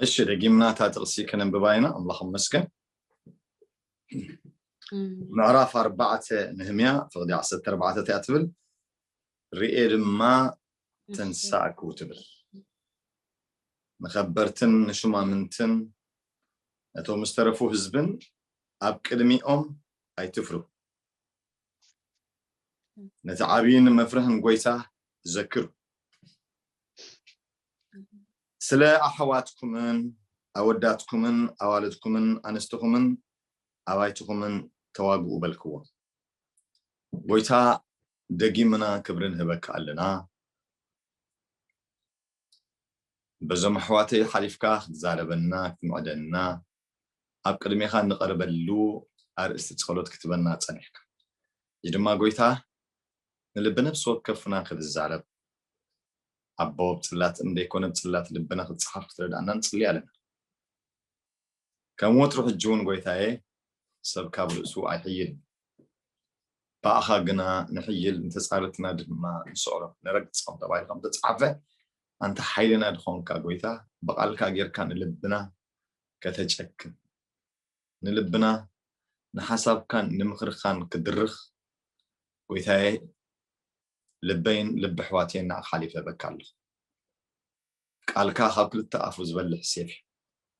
እሺ ደጊምና እታ ጥቕሲ ክነንብባ ኢና ኣምላኽ መስገን ምዕራፍ ኣርባዕተ ንህምያ ፍቕዲ ዓሰርተ ኣርባዕተ እቲያ ትብል ርኤ ድማ ተንሳእኩ ትብል ንከበርትን ንሹማምንትን ነቶም ዝተረፉ ህዝብን ኣብ ቅድሚኦም ኣይትፍሩ ነቲ ዓብይን መፍርሕን ጎይታ ዘክሩ። ስለ ኣሕዋትኩምን ኣወዳትኩምን ኣዋልድኩምን ኣንስትኹምን ኣባይትኹምን ተዋግኡ በልክዎም። ጎይታ ደጊምና ክብሪ ንህበካ ኣለና። በዞም ኣሕዋተይ ሓሊፍካ ክትዛረበና ክትምዕደና ኣብ ቅድሜኻ እንቐርበሉ ኣርእስቲ ጸሎት ክትበና ጸኒሕካ። ሕጂ ድማ ጎይታ ንልቢ ነፍሲ ወከፍና ክትዛረብ ኣቦ ብ ጽላት እም ደይኮነ ብ ጽላት ልብና ክትጽሓፍ ክትረድኣና ንጽሊ ኣለና። ከም ወትሩ ሕጂ ውን ጎይታየ ሰብ ካብ ርእሱ ኣይሕይልን ብኣኻ ግና ንሕይል ንተጻረትና ድማ ንስዕሮ ንረግጾም ተባሂሉ ከም ተጻሓፈ ኣንታ ሓይልና ድኾንካ ጎይታ ብቓልካ ጌርካ ንልብና ከተጨክን፣ ንልብና ንሓሳብካን ንምኽርኻን ክድርኽ፣ ጎይታየ ልበይን ልቢ ኣሕዋተይን ንዓኻ ሓሊፈ እህበካ ኣለኹ። ቃልካ ካብ ክልተ ኣፉ ዝበልሕ ሴፍ እዩ።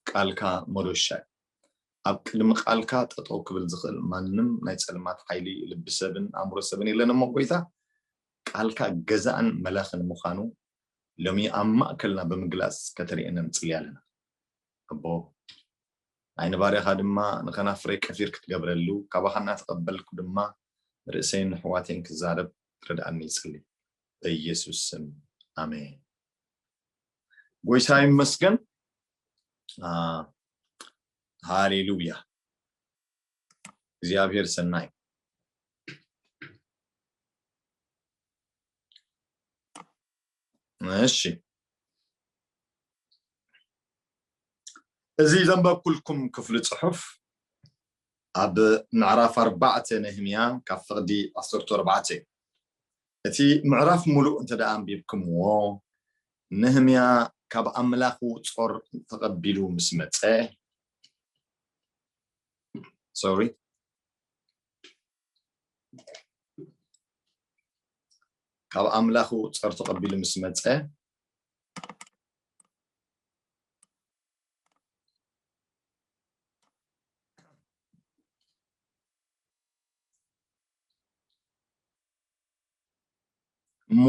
ቃልካ መዶሻ እዩ። ኣብ ቅድሚ ቃልካ ጠጠው ክብል ዝኽእል ማንም ናይ ጸልማት ሓይሊ ልቢ ሰብን ኣእምሮ ሰብን የለን እሞ ጎይታ ቃልካ ገዛእን መላኽን ምዃኑ ሎሚ ኣብ ማእከልና ብምግላጽ ከተርእየና ንጽሊ ኣለና ኣቦ ናይ ንባርያኻ ድማ ንከናፍረይ ቀፊር ክትገብረሉ ካባኻ እናተቀበልኩ ድማ ንርእሰይን ንሕዋተይን ክዛረብ ክትረድኣኒ ይጽሊ በየሱስ ስም ኣሜን ጎይታ ይመስገን ሃሌሉያ እግዚኣብሔር ሰናይ እሺ እዚ ዘንበብኩልኩም ክፍሊ ፅሑፍ ኣብ ምዕራፍ ኣርባዕተ ነህምያ ካብ ፍቕዲ ዓሰርተ ኣርባዕተ እዩ እቲ ምዕራፍ ሙሉእ እንተ ደኣ ኣንቢብኩምዎ ነህምያ ካብ ኣምላኹ ጾር ተቐቢሉ ምስ መፀ ሶሪ ካብ ኣምላኹ ጸር ተቐቢሉ ምስ መጸ እሞ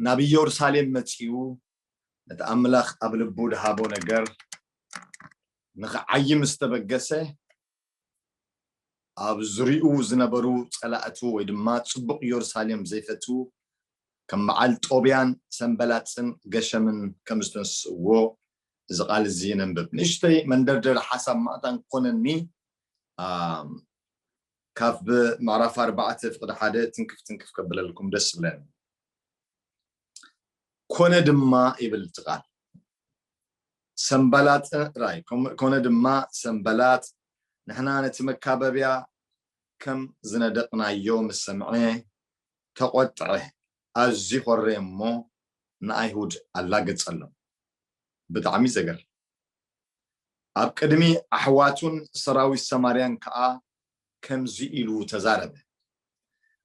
ናብ ኢየሩሳሌም መጺኡ ነቲ ኣምላኽ ኣብ ልቡ ድሃቦ ነገር ንኽዓይ ምስ ተበገሰ ኣብ ዙርይኡ ዝነበሩ ጸላእቱ ወይ ድማ ጽቡቕ የሩሳሌም ዘይፈትዉ ከም በዓል ጦብያን ሰንበላጽን ገሸምን ከም ዝተንስእዎ እዚ ቃል እዚ ነንብብ። ንእሽተይ መንደርደሪ ሓሳብ ማእታን ክኾነኒ ካብ ምዕራፍ ኣርባዕተ ፍቕዲ ሓደ ትንክፍ ትንክፍ ከብለልኩም ደስ ይብለኒ። ኮነ ድማ ይብል እቲ ቃል ሰንባላጥ ጥራይ ኮነ ድማ ሰንባላጥ ንሕና ነቲ መካበብያ ከም ዝነደቕናዮ ምስ ሰምዐ ተቖጥዐ ኣዝዩ ኾረየ እሞ ንኣይሁድ ኣላገጸሎም ብጣዕሚ ዘገርም ኣብ ቅድሚ ኣሕዋቱን ሰራዊት ሰማርያን ከኣ ከምዚ ኢሉ ተዛረበ፣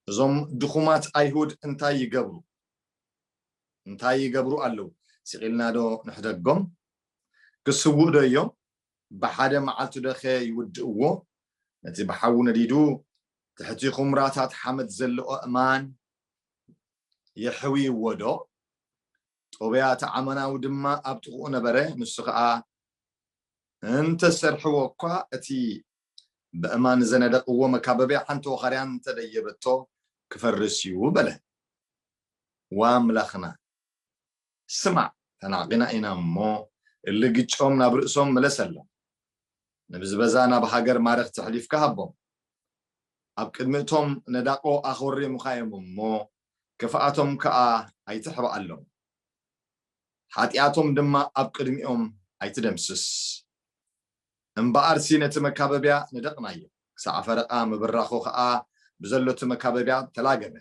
እዞም ድኹማት ኣይሁድ እንታይ ይገብሩ እንታይ ይገብሩ ኣለዉ? ስቒልናዶ ንሕደጎም? ክስውእዶ እዮም? ብሓደ መዓልቲዶኸ ይውድእዎ? ነቲ ብሓዊ ነዲዱ ትሕቲ ዅምራታት ሓመድ ዘሎ ኣእማን የሕውይዎዶ? ጦብያ እቲ ዓማናዊ ድማ ኣብ ጥቕኡ ነበረ፣ ንሱ ኸኣ እንተ ሰርሕዎ እኳ እቲ በእማን ዘነደቕዎ መካበብያ ሓንቲ ወኻርያ እንተ ደየበቶ ክፈርስ እዩ በለ። ዋእ ኣምላኽና! ስማዕ! ተናዕቂና ኢና እሞ እሊ ግጮም ናብ ርእሶም ምለሰሎም። ንብዝበዛ ናብ ሃገር ማረኽቲ ኣሕሊፍካ ሃቦም። ኣብ ቅድሚ እቶም ነዳቑ ኣኾሪምኻ እዮም እሞ ክፍኣቶም ከኣ ኣይትሕብኣሎም። ሓጢኣቶም ድማ ኣብ ቅድሚኦም ኣይትደምስስ። እምበኣርሲ ነቲ መካበብያ ነደቕናዮ፣ ክሳዕ ፈረቓ ምብራኹ ኸኣ ብዘሎቲ መካበብያ ተላገበ፣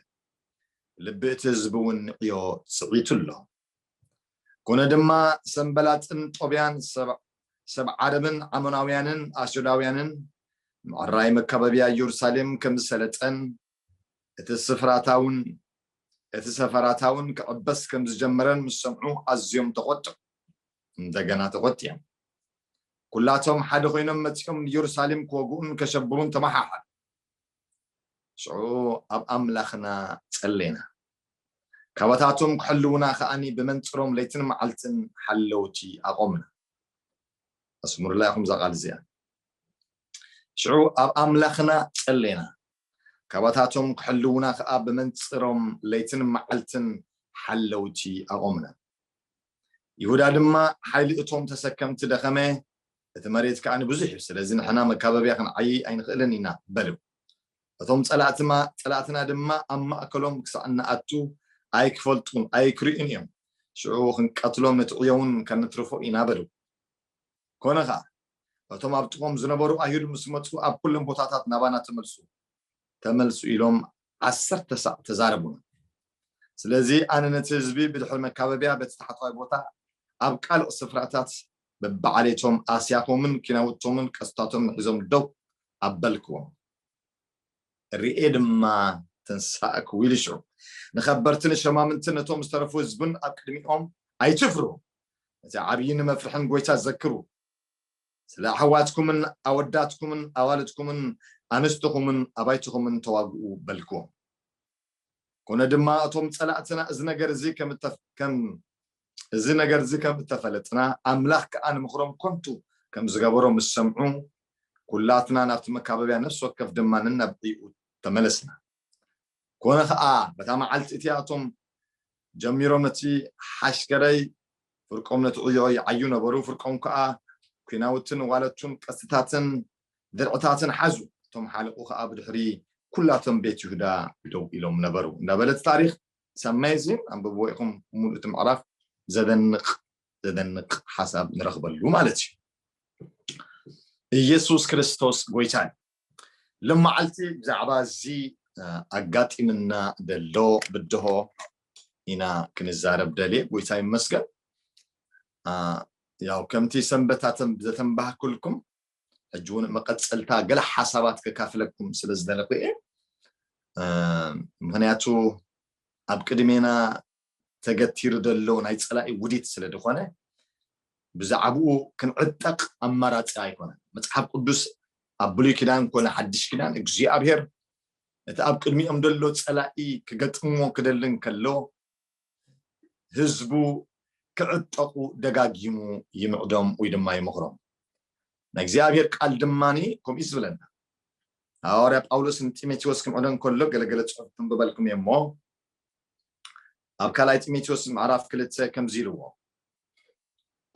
ልቢ እቲ ህዝቢውን ንዕዮ ጽዒቱ ኣሎ። ኰነ ድማ፣ ሰንበላጥን ጦብያን፣ ሰብ ዓረብን ዓሞናውያንን ኣስዶዳውያንን፣ ምዕራይ መካበብያ ኢየሩሳሌም ከም ዝሰለጠን፣ እቲ ስፍራታውን እቲ ሰፈራታውን ክዕበስ ከም ዝጀመረን ምስ ሰምዑ ኣዝዮም ተቖጥዑ፣ እንደገና ተቖጢዖም። ኩላቶም ሓደ ኮይኖም መጺኦም ንየሩሳሌም ክወግኡን ከሸብሩን ተመሓሓሉ። ሽዑ ኣብ ኣምላኽና ጸለይና፣ ካባታቶም ክሕልዉና ከኣ ብመንጽሮም ለይትን መዓልትን ሓለውቲ ኣቖምና። ኣስምሩላ ኢኹም እዛ ቃል እዚኣ። ሽዑ ኣብ ኣምላኽና ጸለይና፣ ካባታቶም ክሕልዉና ከኣ ብመንጽሮም ለይትን መዓልትን ሓለውቲ ኣቖምና። ይሁዳ ድማ ሓይሊ እቶም ተሰከምቲ ደኸመ፣ እቲ መሬት ከኣ ብዙሕ እዩ፣ ስለዚ ንሕና መካበብያ ክንዓይይ ኣይንኽእልን ኢና በሉ። እቶም ጸላእትና ድማ ኣብ ማእከሎም ክሳዕ እንኣቱ ኣይክፈልጡን ኣይክርእዩን እዮም፣ ሽዑ ክንቀትሎም ንትዕዮውን ከንትርፎ ኢና በሉ። ኰነ ኸኣ፣ እቶም ኣብ ጥቕኦም ዝነበሩ ኣይሁድ ምስ መጹ ኣብ ኩሎም ቦታታት ናባና ተመልሱ ተመልሱ ኢሎም ዓሰርተ ሳዕ ተዛረቡና። ስለዚ ኣነ ነቲ ህዝቢ ብድሕሪ መካበብያ በቲ ታሕተዋይ ቦታ ኣብ ቃልእ ስፍራታት በብዓሌቶም ኣስያፎምን ኪናውቶምን ቀስታቶምን ሒዞም ደው ኣበልክዎም። ርእየ ድማ ተንሳእኩ ኢሉ ሽዑ ንከበርትን ሸማምንትን ነቶም ዝተረፉ ህዝብን ኣብ ቅድሚኦም ኣይትፍርሁ እቲ ዓብይን መፍርሕን ጎይታ ዘክሩ። ስለ ኣሕዋትኩምን ኣወዳትኩምን ኣዋልድኩምን ኣንስትኹምን ኣባይትኹምን ተዋግኡ በልክዎም። ኮነ ድማ እቶም ጸላእትና እዚ ነገር እዚ ከም ከም እዚ ነገር እዚ ከም እተፈለጥና ኣምላኽ ከኣ ንምኽሮም ኮንቱ ከም ዝገበሮ ምስ ሰምዑ ኩላትና ናብቲ መካበብያ ነፍሲ ወከፍ ድማ ነናብ ዕይኡ ተመለስና። ኰነ ኸኣ፣ በታ መዓልቲ እቲኣ እቶም ጀሚሮም ነቲ ሓሽከረይ ፍርቆም ነቲ ዕዮ ይዓዩ ነበሩ፣ ፍርቆም ከኣ ኲናውትን ዋለቱን ቀስትታትን ድርዕታትን ሓዙ፣ እቶም ሓለቑ ኸኣ ብድሕሪ ኵላቶም ቤት ይሁዳ ደው ኢሎም ነበሩ። እንዳ በለት ታሪኽ ኢትስ ኣሜዚን ኣንብብዎ ኢኹም ሙሉእ እቲ ምዕራፍ ዘደንቕ ዘደንቕ ሓሳብ ንረኽበሉ ማለት እዩ። ኢየሱስ ክርስቶስ ጎይታ እዩ። ሎማዓልቲ ብዛዕባ እዚ ኣጋጢምና ደሎ ብድሆ ኢና ክንዛረብ ደልየ ጎይታ ይመስገን ያው ከምቲ ሰንበታተን ዘተንባህኩልኩም ሕጂ እውን መቐፀልታ ገለ ሓሳባት ከካፍለኩም ስለ ዝደለኹ እየ ምክንያቱ ኣብ ቅድሜና ተገቲሩ ዘሎ ናይ ጸላኢ ውዲት ስለ ድኾነ ብዛዕብኡ ክንዕጠቕ ኣማራጺ ኣይኮነን። መጽሓፍ ቅዱስ ኣብ ብሉይ ኪዳን ኮነ ሓድሽ ኪዳን እግዚኣብሔር እቲ ኣብ ቅድሚኦም ዘሎ ጸላኢ ክገጥምዎ ክደሊ እንከሎ ህዝቡ ክዕጠቑ ደጋጊሙ ይምዕዶም ወይ ድማ ይመኽሮም። ናይ እግዚኣብሔር ቃል ድማኒ ከምኡ እዩ ዝብለና። ሃዋርያ ጳውሎስ ንጢሞቴዎስ ክምዕዶ እንከሎ ገለገለ ጽሑፍ ክንብበልኩም እየ እሞ ኣብ ካልኣይ ጢሞቴዎስ ምዕራፍ ክልተ ከምዚ ኢልዎ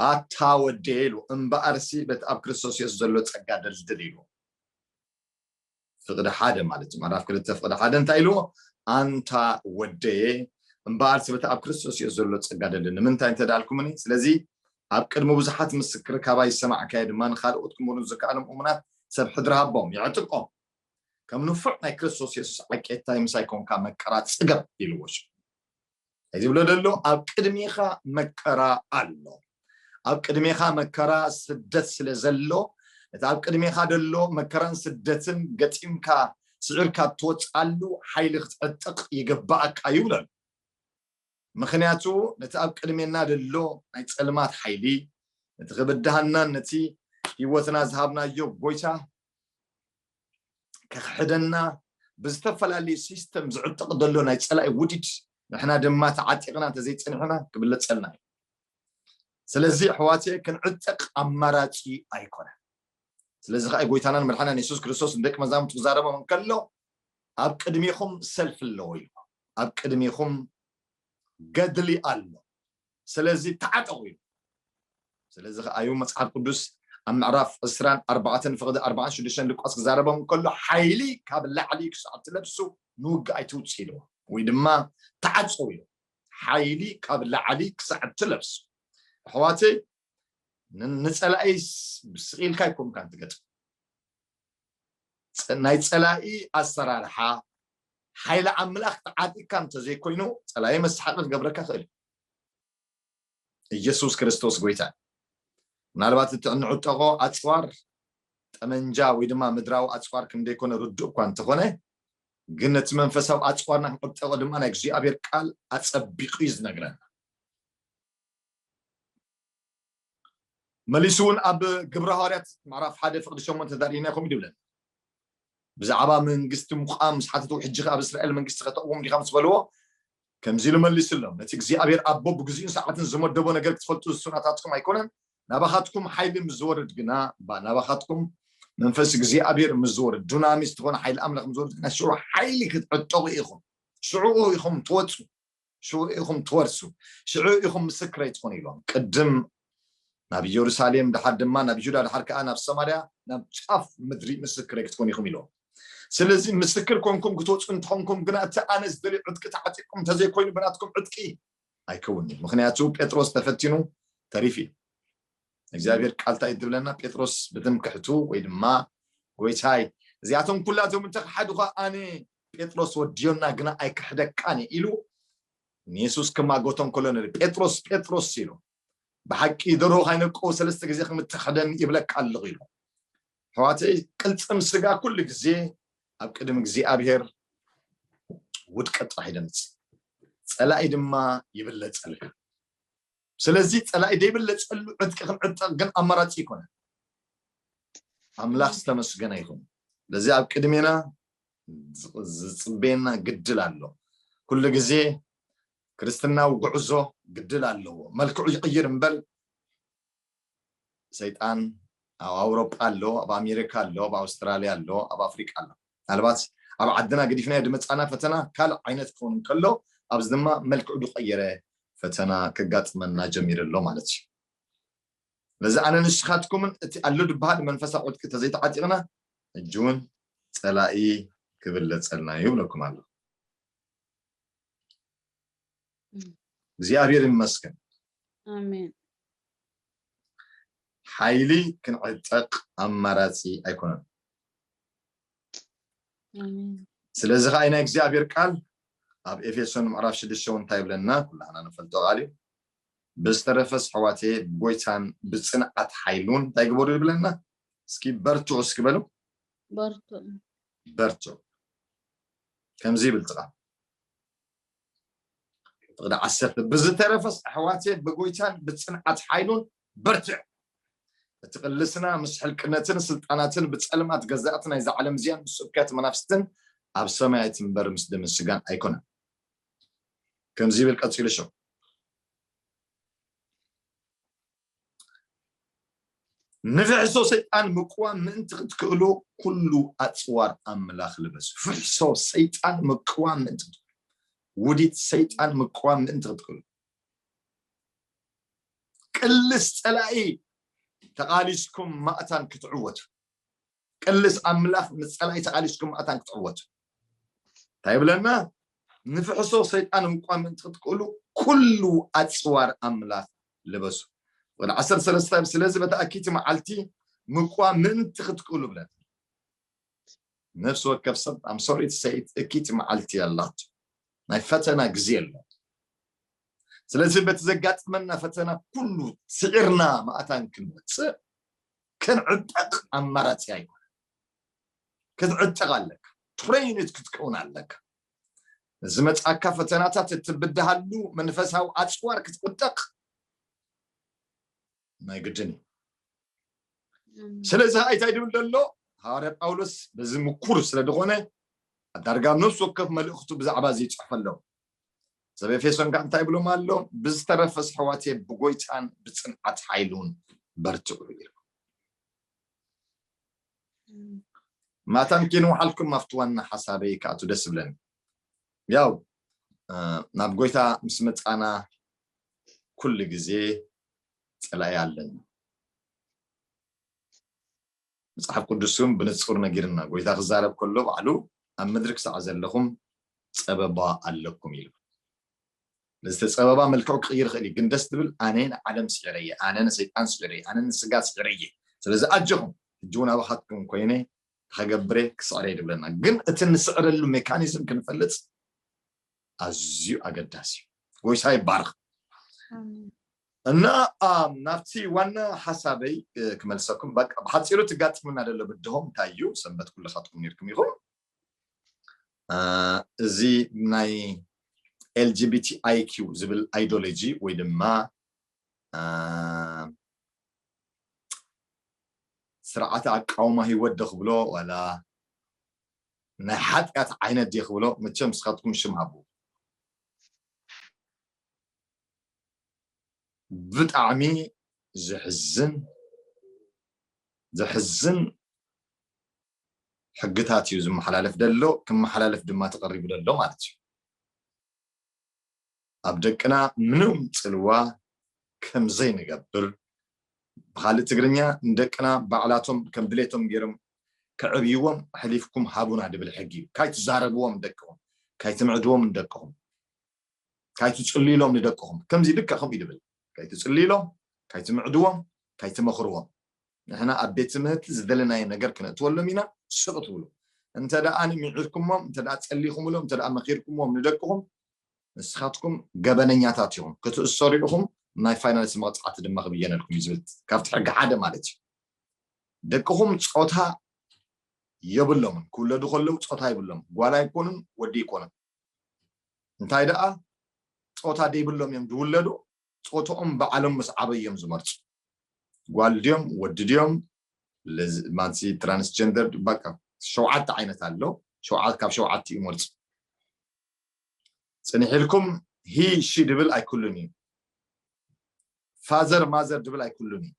ኣታ ወደየ ኢሉ እምበኣርሲ በቲ ኣብ ክርስቶስ የሱስ ዘሎ ጸጋ ደልድል ኢሉ ፍቅዲ ሓደ ማለት እዩ ምዕራፍ ክልተ ፍቅዲ ሓደ እንታይ ኢልዎ ኣንታ ወደየ እምበኣር ስበቲ ኣብ ክርስቶስ የሱስ ዘሎ ፀጋ ደሊ ንምንታይ እንተዳልኩምኒ ስለዚ ኣብ ቅድሚ ብዙሓት ምስክር ካባይ ዝሰማዕካዮ ድማ ንካልኦት ክምሩን ዝከኣሎም እሙናት ሰብ ሕድሪ ሃቦም ይዕጥቆም ከም ንፉዕ ናይ ክርስቶስ የሱስ ዓቄታይ ምሳይ ኰንካ መከራ ጽገብ ኢልዎ ሽዑ እንታይ ዝብሎ ደሎ ኣብ ቅድሜኻ መከራ ኣሎ ኣብ ቅድሜኻ መከራ ስደት ስለ ዘሎ እቲ ኣብ ቅድሜኻ ደሎ መከራን ስደትን ገጢምካ ስዒርካ እትወጽኣሉ ሓይሊ ክትዕጥቕ ይግባኣካ እዩ ብለሉ ምኽንያቱ ነቲ ኣብ ቅድሜና ዘሎ ናይ ጸልማት ሓይሊ፣ ነቲ ክብድሃናን ነቲ ህይወትና ዝሃብናዮ ጎይታ ከኽሕደና ብዝተፈላለዩ ሲስተም ዝዕጥቕ ዘሎ ናይ ጸላኢ ውዲድ ንሕና ድማ ተዓጢቕና እንተዘይጸኒሑና ክብለጸልና እዩ። ስለዚ ኣሕዋትየ ክንዕጠቕ ኣማራጺ ኣይኮነን። ስለዚ ከኣ ጎይታናን መድሓናን የሱስ ክርስቶስ ንደቂ መዛሙርቱ ክዛረቦም እንከሎ ኣብ ቅድሜኹም ሰልፊ ኣለዎ ኢልዎም። ኣብ ቅድሚኹም ገድሊ ኣሎ ስለዚ ተዓጠቑ ኢሉ ስለዚ ከኣ እዩ መጽሓፍ ቅዱስ ኣብ ምዕራፍ ዕስራን ኣርባዕተን ፍቕዲ ኣርባዓን ሽዱሽተን ሉቃስ ክዛረቦም ከሎ ሓይሊ ካብ ላዕሊ ክሳዕ ትለብሱ ንውግእ ኣይትውጽ ኢልዎ ወይ ድማ ተዓጽው ኢሉ ሓይሊ ካብ ላዕሊ ክሳዕ ትለብሱ ኣሕዋተይ ንፀላኢ ስቅ ኢልካ ኣይኮንካን ትገጥም ናይ ፀላኢ ኣሰራርሓ ሓይሊ ኣምላኽ ተዓጢቅካ እንተዘይኮይኑ ፀላኢ መስሓቂ ክገብረካ ክእል ኢየሱስ ክርስቶስ ጎይታ ምናልባት እቲ እንዕጠቆ ኣፅዋር ጠመንጃ ወይ ድማ ምድራዊ ኣፅዋር ከም ዘይኮነ ርዱእ እኳ እንተኾነ ግን ነቲ መንፈሳዊ ኣፅዋርና ክንዕጠቆ ድማ ናይ እግዚኣብሔር ቃል ኣፀቢቁ እዩ ዝነግረና መሊሱ እውን ኣብ ግብረ ሃዋርያት ምዕራፍ ሓደ ፍቅዲ ሸሞንተ ተዳሪእና ከምኡ ይብለና ብዛዕባ መንግስቲ ምቋም ምስ ሓተትዎ ሕጂ ኣብ እስራኤል መንግስቲ ከተቕውም ዲኻ ምስ በልዎ ከምዚ ኢሉ መሊስሎም ነቲ እግዚኣብሔር ኣቦ ብግዚኡን ሰዓትን ዝመደቦ ነገር ክትፈልጡ ዝሱናታትኩም ኣይኮነን ናባኻትኩም ሓይሊ ምስ ዝወርድ ግና ናባኻትኩም መንፈስ እግዚኣብሔር ምስ ዝወርድ ዱናሚስ ዝኾነ ሓይሊ ኣምላኽ ምስ ዝወርድ ግና ሽዑ ሓይሊ ክትዕጠቑ ኢኹም ሽዑኡ ኢኹም ትወፁ ሽዑ ኢኹም ትወርሱ፣ ሽዑ ኢኹም ምስክረይ ትኹኑ ኢሎም፣ ቅድም ናብ ኢየሩሳሌም፣ ደሓር ድማ ናብ ይሁዳ፣ ደሓር ከኣ ናብ ሰማርያ፣ ናብ ጫፍ ምድሪ ምስክረይ ክትኮኑ ኢኹም ኢሎም። ስለዚ ምስክር ኮንኩም ክትወጹ እንተኾንኩም ግና እቲ ኣነ ዝደልዮ ዕጥቂ ተዓጢቅኩም እንተዘይኮይኑ ብናትኩም ዕጥቂ ኣይከውንን፣ ምኽንያቱ ጴጥሮስ ተፈቲኑ ተሪፉ እዩ። እግዚኣብሔር ቃል እንታይ ትብለና ጴጥሮስ ብትምክሕቱ ወይ ድማ ጎይታይ እዚኣቶም ኩላቶም እንተክሓድኳ ኣነ ጴጥሮስ ወድዮና ግና ኣይክሕደካን ኢሉ ንየሱስ ክማጎቶም ከሎ ንርኢ ጴጥሮስ ጴጥሮስ ኢሉ ብሓቂ ደሮ ካይነቆ ሰለስተ ግዜ ከምትክሕደኒ ይብለካ ኣለኹ ኢሉ ሕዋተይ ቅልፅም ስጋ ኩሉ ግዜ ኣብ ቅድሚ እግዚኣብሄር ውድቀት ጥራሕ ይደምፅ ፀላኢ ድማ ይብለፀልካ ስለዚ ጸላኢ ዘይብለጸሉ ዕጥቂ ክንዕጠቕ ግን ኣማራጺ ኣይኮነን። ኣምላኽ ዝተመስገነ ይኹን። ለዚ ኣብ ቅድሜና ዝጽበየና ግድል ኣሎ። ኩሉ ግዜ ክርስትናዊ ጉዕዞ ግድል ኣለዎ። መልክዑ ይቕይር እምበር ሰይጣን ኣብ ኣውሮጳ ኣሎ ኣብ ኣሜሪካ ኣሎ ኣብ ኣውስትራልያ ኣሎ ኣብ ኣፍሪቃ ኣሎ ምናልባት ኣብ ዓድና ገዲፍናዮ ድመጻና ፈተና ካልእ ዓይነት ክኸውን ከሎ ኣብዚ ድማ መልክዑ ድቀየረ ፈተና ከጋጥመና ጀሚሩ ኣሎ ማለት እዩ ስለዚ ኣነ ንስኻትኩምን እቲ ኣሎ ድበሃል መንፈሳዊ ዕጥቂ ተዘይተዓጢቕና ሕጂ እውን ጸላኢ ክብለጸልና ይብለኩም ኣሎ እግዚኣብሔር ይመስገን ኣሜን ሓይሊ ክንዕጠቅ ኣማራፂ ኣይኮነን ስለዚ ከዓ ናይ እግዚኣብሔር ቃል ኣብ ኤፌሶን ምዕራፍ ሽዱሽተ እውን እንታይ ይብለና ኩላህና ንፈልጦ ቃል እዩ ብዝተረፈስ ኣሕዋቴ ጎይታን ብፅንዓት ሓይሉን እንታይ ግበሩ ይብለና እስኪ በርትዑ እስኪ በሉ በርትዑ ከምዚ ይብል ጥቃ ፍቅዲ ዓሰርተ ብዝተረፈስ ኣሕዋትየ ብጎይታን ብፅንዓት ሓይሉን በርትዕ እቲ ቅልስና ምስ ሕልቅነትን ስልጣናትን ብፀልማት ገዛእቲ ናይዛ ዓለም እዚኣን ምስ ስብከት መናፍስትን ኣብ ሰማያት እምበር ምስ ደመ ስጋን ኣይኮነን ከምዚ ይብል ቀፂሉ ሸው ንፍሕሶ ሰይጣን ምቅዋም ምእንቲ ክትክእሉ ኩሉ ኣፅዋር ኣምላኽ ልበሱ ፍሕሶ ሰይጣን ምቅዋም ምእንቲ ክትክእሉ ውዲት ሰይጣን ምቅዋም ምእንቲ ክትክእሉ ቅልስ ፀላኢ ተቓሊስኩም ማእታን ክትዕወቱ ቅልስ ኣምላኽ ምስ ጸላኢ ተቃሊስኩም መኣታን ክትዕወቱ እንታይ ይብለና ንፍሕሶ ሰይጣን ምቋም ምእንቲ ክትክእሉ ኩሉ ኣጽዋር ኣምላኽ ልበሱ ወደ ዓሰርተ ሰለስተ ስለዚ በቲ ኣኪቲ መዓልቲ ምቋም ምእንቲ ክትክእሉ ብለን ነፍሲ ወከፍ ሰብ ኣም ሶሪ ሰይት እኪቲ መዓልቲ ኣላቶ ናይ ፈተና ግዜ ኣሎ ስለዚ በቲ ዘጋጥመና ፈተና ኩሉ ስዒርና መኣታን ክንወፅእ ክንዕጠቅ ኣማራጺ ኣይኮነን ክትዕጠቅ ኣለካ ትሬይንድ ክትከውን ኣለካ ንዝመጻካ ፈተናታት እትብድሃሉ መንፈሳዊ ኣጽዋር ክትዕጠቅ ናይ ግድን እዩ ስለዚ ከዓ እንታይ ድብል ዘሎ ሃዋርያ ጳውሎስ በዚ ምኩር ስለ ዝኾነ ኣዳርጋ ነፍሲ ወከፍ መልእኽቱ ብዛዕባ እዚ ይፅሕፈ ኣለዉ ሰብ ኤፌሶን ከ እንታይ ብሎም ኣሎ ብዝተረፈ ኣሕዋትየ ብጎይታን ብፅንዓት ሓይሉን በርትዑ ይብል ማታን ኪንውሓልኩም ኣብቲ ዋና ሓሳበይ ከኣቱ ደስ ብለን ያው ናብ ጎይታ ምስ መፃና ኩሉ ግዜ ፀላኢ ኣለና መጽሓፍ ቅዱስ እውን ብንጹር ነጊሩና፣ ጐይታ ክዛረብ ከሎ ባዕሉ ኣብ ምድሪ ክሳዕ ዘለኹም ጸበባ ኣለኩም ኢሉ። ስለዚ እቲ ጸበባ መልክዑ ክቕይር ይኽእል እዩ፣ ግን ደስ ዝብል ኣነ ንዓለም ስዒረ እየ፣ ኣነ ንሰይጣን ስዒረ እየ፣ ኣነ ንስጋ ስዒረ እየ፣ ስለዚ ኣጆኹም ሕጂ እውን ኣባኻትኩም ኰይነ ክኸገብር እየ፣ ክስዕር እየ ዝብለና። ግን እቲ ንስዕረሉ ሜካኒዝም ክንፈልጥ ኣዝዩ ኣገዳሲ እዩ ጎይታ ይባረኽ እና ናብቲ ዋና ሓሳበይ ክመልሰኩም ብሓፂሩ ትጋጥሙና ደሎ ብድሆም እንታይ እዩ ሰንበት ኩልኻትኩም ነርኩም ኢኹም እዚ ናይ ኤልጂቢቲ ኣይኪው ዝብል ኣይዶሎጂ ወይ ድማ ስርዓተ ኣቃውማ ህይወት ዶ ክብሎ ዋላ ናይ ሓጥያት ዓይነት ድየ ክብሎ መቸም ንስካትኩም ሽም ሃብዎ። ብጣዕሚ ዘሕዝን ዘሕዝን ሕግታት እዩ ዝመሓላለፍ ደሎ ክመሓላለፍ ድማ ተቀሪቡ ደሎ ማለት እዩ። ኣብ ደቅና ምንም ጽልዋ ከም ዘይንገብር ብኻልእ ትግርኛ ንደቅና ባዕላቶም ከም ድሌቶም ጌሮም ከዕብይዎም ኣሕሊፍኩም ሃቡና ድብል ሕጊ እዩ ካይትዛረብዎም ንደቅኹም ካይትምዕድዎም ንደቅኹም ካይትጽልዩሎም ንደቅኹም ከምዚ ልክዕ ከምኡ እዩ ድብል ካይትጽልዩሎም ካይትምዕድዎም ካይትመኽርዎም ንሕና ኣብ ቤት ትምህርቲ ዝደለናዮ ነገር ክነእትወሎም ኢና ስቕ ትብሉ እንተ ደኣ ምዒርኩሞም እንተ ደኣ ጸሊኹምሎም እንተ ደኣ መኺርኩምዎም ንደቅኹም ንስኻትኩም ገበነኛታት ኢኹም፣ ክትእሰሩ ኢኹም፣ ናይ ፋይናንስ መቕጻዕቲ ድማ ክብየነልኩም እዩ ዝብል ካብቲ ሕጊ ሓደ ማለት እዩ። ደቅኹም ጾታ የብሎምን፣ ክውለዱ ከለዉ ጾታ የብሎምን፣ ጓል ኣይኮኑን ወዲ ኣይኮኑን። እንታይ ደኣ ጾታ ደይብሎም እዮም ዝውለዱ፣ ጾትኦም ባዕሎም ምስ ዓበዩ እዮም ዝመርጹ። ጓል ድዮም ወዲ ድዮም ማንሲ ትራንስጀንደር በቃ ሸውዓተ ዓይነት ኣሎ፣ ካብ ሸውዓቲኡ ይመርጹ። ጽንሕ ኢልኩም ሂ ሺ ድብል ኣይክሉን እዩ ፋዘር ማዘር ድብል ኣይክሉን እዩ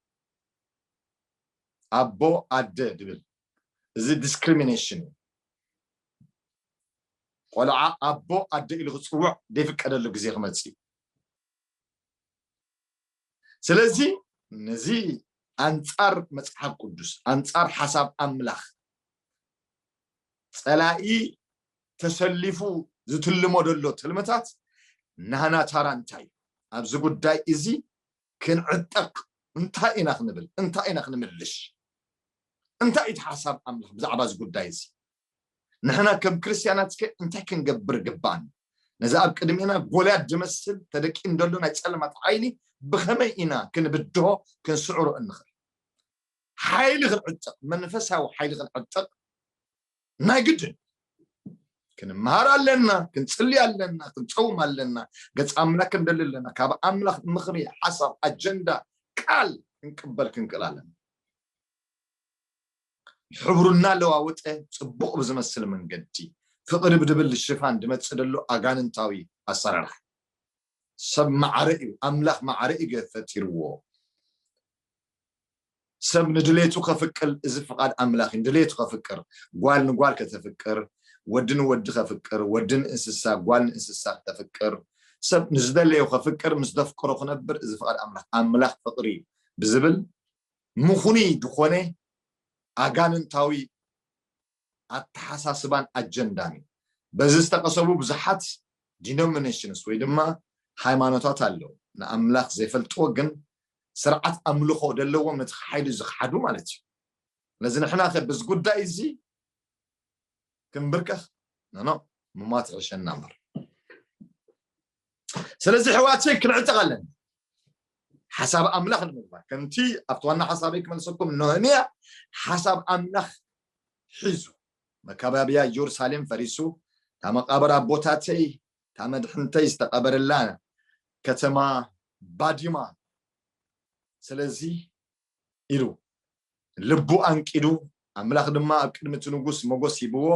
ኣቦ ኣደ ድብል እዚ ዲስክሪሚኔሽን እዩ ቆልዓ ኣቦ ኣደ ኢሉ ክፅውዕ ዘይፍቀደሉ ግዜ ክመፅእ እዩ ስለዚ ነዚ ኣንጻር መጽሓፍ ቅዱስ ኣንጻር ሓሳብ ኣምላኽ ጸላኢ ተሰሊፉ ዝትልሞ ዘሎ ትልምታት ናህና ታራ እንታይ እዩ ኣብዚ ጉዳይ እዚ ክንዕጠቕ እንታይ ኢና ክንብል እንታይ ኢና ክንምልሽ እንታይ እቲ ሓሳብ ኣምላኽ ብዛዕባ እዚ ጉዳይ እዚ ንሕና ከም ክርስትያናትከ እንታይ ክንገብር ይግብኣና? ነዚ ኣብ ቅድሜና ጐልያድ ዝመስል ተደቂኑ ዘሎ ናይ ጸልማት ሓይሊ ብኸመይ ኢና ክንብድሆ፣ ክንስዕሮ እንኽእል? ሓይሊ ክንዕጠቕ፣ መንፈሳዊ ሓይሊ ክንዕጠቕ ናይ ግድን እዩ። ክንመሃር ኣለና፣ ክንጽሊ ኣለና፣ ክንጸውም ኣለና፣ ገጽ ኣምላክ ክንደሊ ኣለና፣ ካብ ኣምላኽ ምኽሪ፣ ሓሳብ፣ ኣጀንዳ፣ ቃል ክንቅበል ክንክእል ኣለና። ሕብሩ እናለዋወጠ ጽቡቕ ብዝመስል መንገዲ ፍቕሪ ብድብል ሽፋን ድመጽእ ደሎ ኣጋንንታዊ ኣሰራርሓ ሰብ ማዕረ እዩ ኣምላኽ ማዕረ እዩ ገ ፈጢርዎ ሰብ ንድሌቱ ከፍቅል እዚ ፍቓድ ኣምላኽ እዩ ድሌቱ ከፍቅር ጓል ንጓል ከተፍቅር ወዲ ንወዲ ከፍቅር ወዲ ንእንስሳ ጓል ንእንስሳ ከተፍቅር ሰብ ንዝደለዮ ከፍቅር ምስ ደፍቅሮ ክነብር እዚ ፍቓድ ኣምላኽ ኣምላኽ ፍቕሪ እዩ ብዝብል ምኽኑይ ዝኾነ ኣጋንንታዊ ኣተሓሳስባን ኣጀንዳን እዩ። በዚ ዝተቐሰቡ ብዙሓት ዲኖሚነሽንስ ወይ ድማ ሃይማኖታት ኣለው። ንኣምላኽ ዘይፈልጥዎ ግን ስርዓት ኣምልኾ ዘለዎም ነቲ ሓይሊ ዝኽሓዱ ማለት እዩ። ስለዚ ንሕናኸ በዚ ጉዳይ እዚ ክንብርከኽ ኖኖ ምሟት ይሕሸና እምበር። ስለዚ ሕዋተይ ክንዕጠቕ ኣለና ሓሳብ ኣምላኽ ንምግባር ከምቲ ኣብቲ ዋና ሓሳበይ ክመልሰኩም ነህምያ ሓሳብ ኣምላኽ ሒዙ መካባብያ ኢየሩሳሌም ፈሪሱ እታ መቃብር ኣቦታተይ እታ መድሕንተይ ዝተቐበረላ ከተማ ባዲማ ስለዚ ኢሉ ልቡ ኣንቂዱ፣ ኣምላኽ ድማ ኣብ ቅድሚ እቲ ንጉስ ሞገስ ሂብዎ፣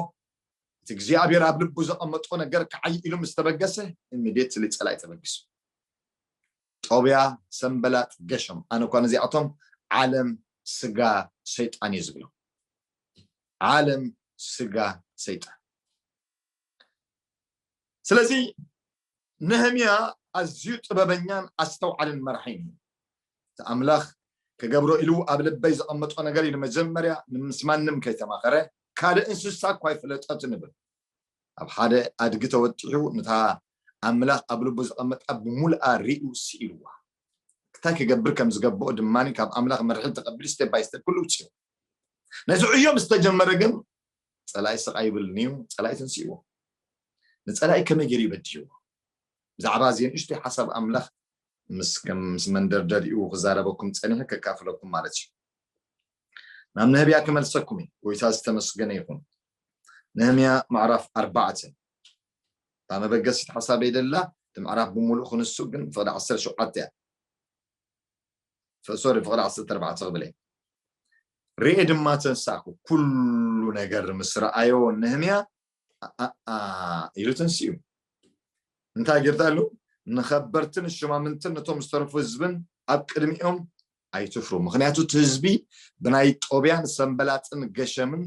እቲ እግዚኣብሄር ኣብ ልቡ ዘቐመጦ ነገር ክዓዪ ኢሉ ምስ ተበገሰ፣ እንዴት ስሊ ጸላኢ ተበጊሱ። ጦብያ፣ ሰንበላጥ፣ ገሸም፣ ኣነ እኳ ነዚኣቶም ዓለም ስጋ ሰይጣን እየ ዝብሎም። ዓለም ስጋ ሰይጣን። ስለዚ ነህምያ ኣዝዩ ጥበበኛን ኣስተውዓልን መራሒን እዩ። እቲ ኣምላኽ ክገብሮ ኢሉ ኣብ ልበይ ዘቐመጦ ነገር እዩ፣ ንመጀመርያ ምስ ማንም ከይተማኸረ ካልእ እንስሳ እኳ ኣይፈለጠትን እብል። ኣብ ሓደ ኣድጊ ተወጢሑ ነታ ኣምላኽ ኣብ ልቡ ዘቐመጣ ብምሉኣ ርእዩ ስኢንዋ። እንታይ ክገብር ከም ዝገበኦ ድማ ካብ ኣምላኽ መርሒ ተቐቢሉ ስቴፕ ባይ ስቴፕ ኩሉ ኣብጺሑ። ነቲ ዕዮ ምስ ተጀመረ ግን ፀላኢ ስቃይ ይብል ንዩ ፀላኢ ተንስእዎ ንፀላኢ ከመይ ገይሩ ይበድህዎ ብዛዕባ እዚኤን ንእሽተይ ሓሳብ ኣምላኽ ምስ ከም ምስ መንደርደሪኡ ክዛረበኩም ፀኒሐ ከካፍለኩም ማለት እዩ ናብ ነህብያ ክመልሰኩም እዩ ጎይታ ዝተመስገነ ይኹን ነህምያ ምዕራፍ ኣርባዕተ እታ መበገሲት ሓሳበይ ደላ እቲ ምዕራፍ ብምሉእ ክንሱ ግን ፍቅዲ ዓሰርተ ሸውዓተ እያ ሶሪ ፍቅሪ ዓሰርተ ኣርባዕተ ክብል እየ ርኤ ድማ ተንሳእኩ ኩሉ ነገር ምስ ረኣዮ ነህምያ ኢሉ ተንስኡ እንታይ ጌርታ ኢሉ ንከበርትን ሽማምንትን ነቶም ዝተረፉ ህዝብን ኣብ ቅድሚኦም ኣይትፍሩ ምክንያቱ እቲ ህዝቢ ብናይ ጦብያን ሰንበላጥን ገሸምን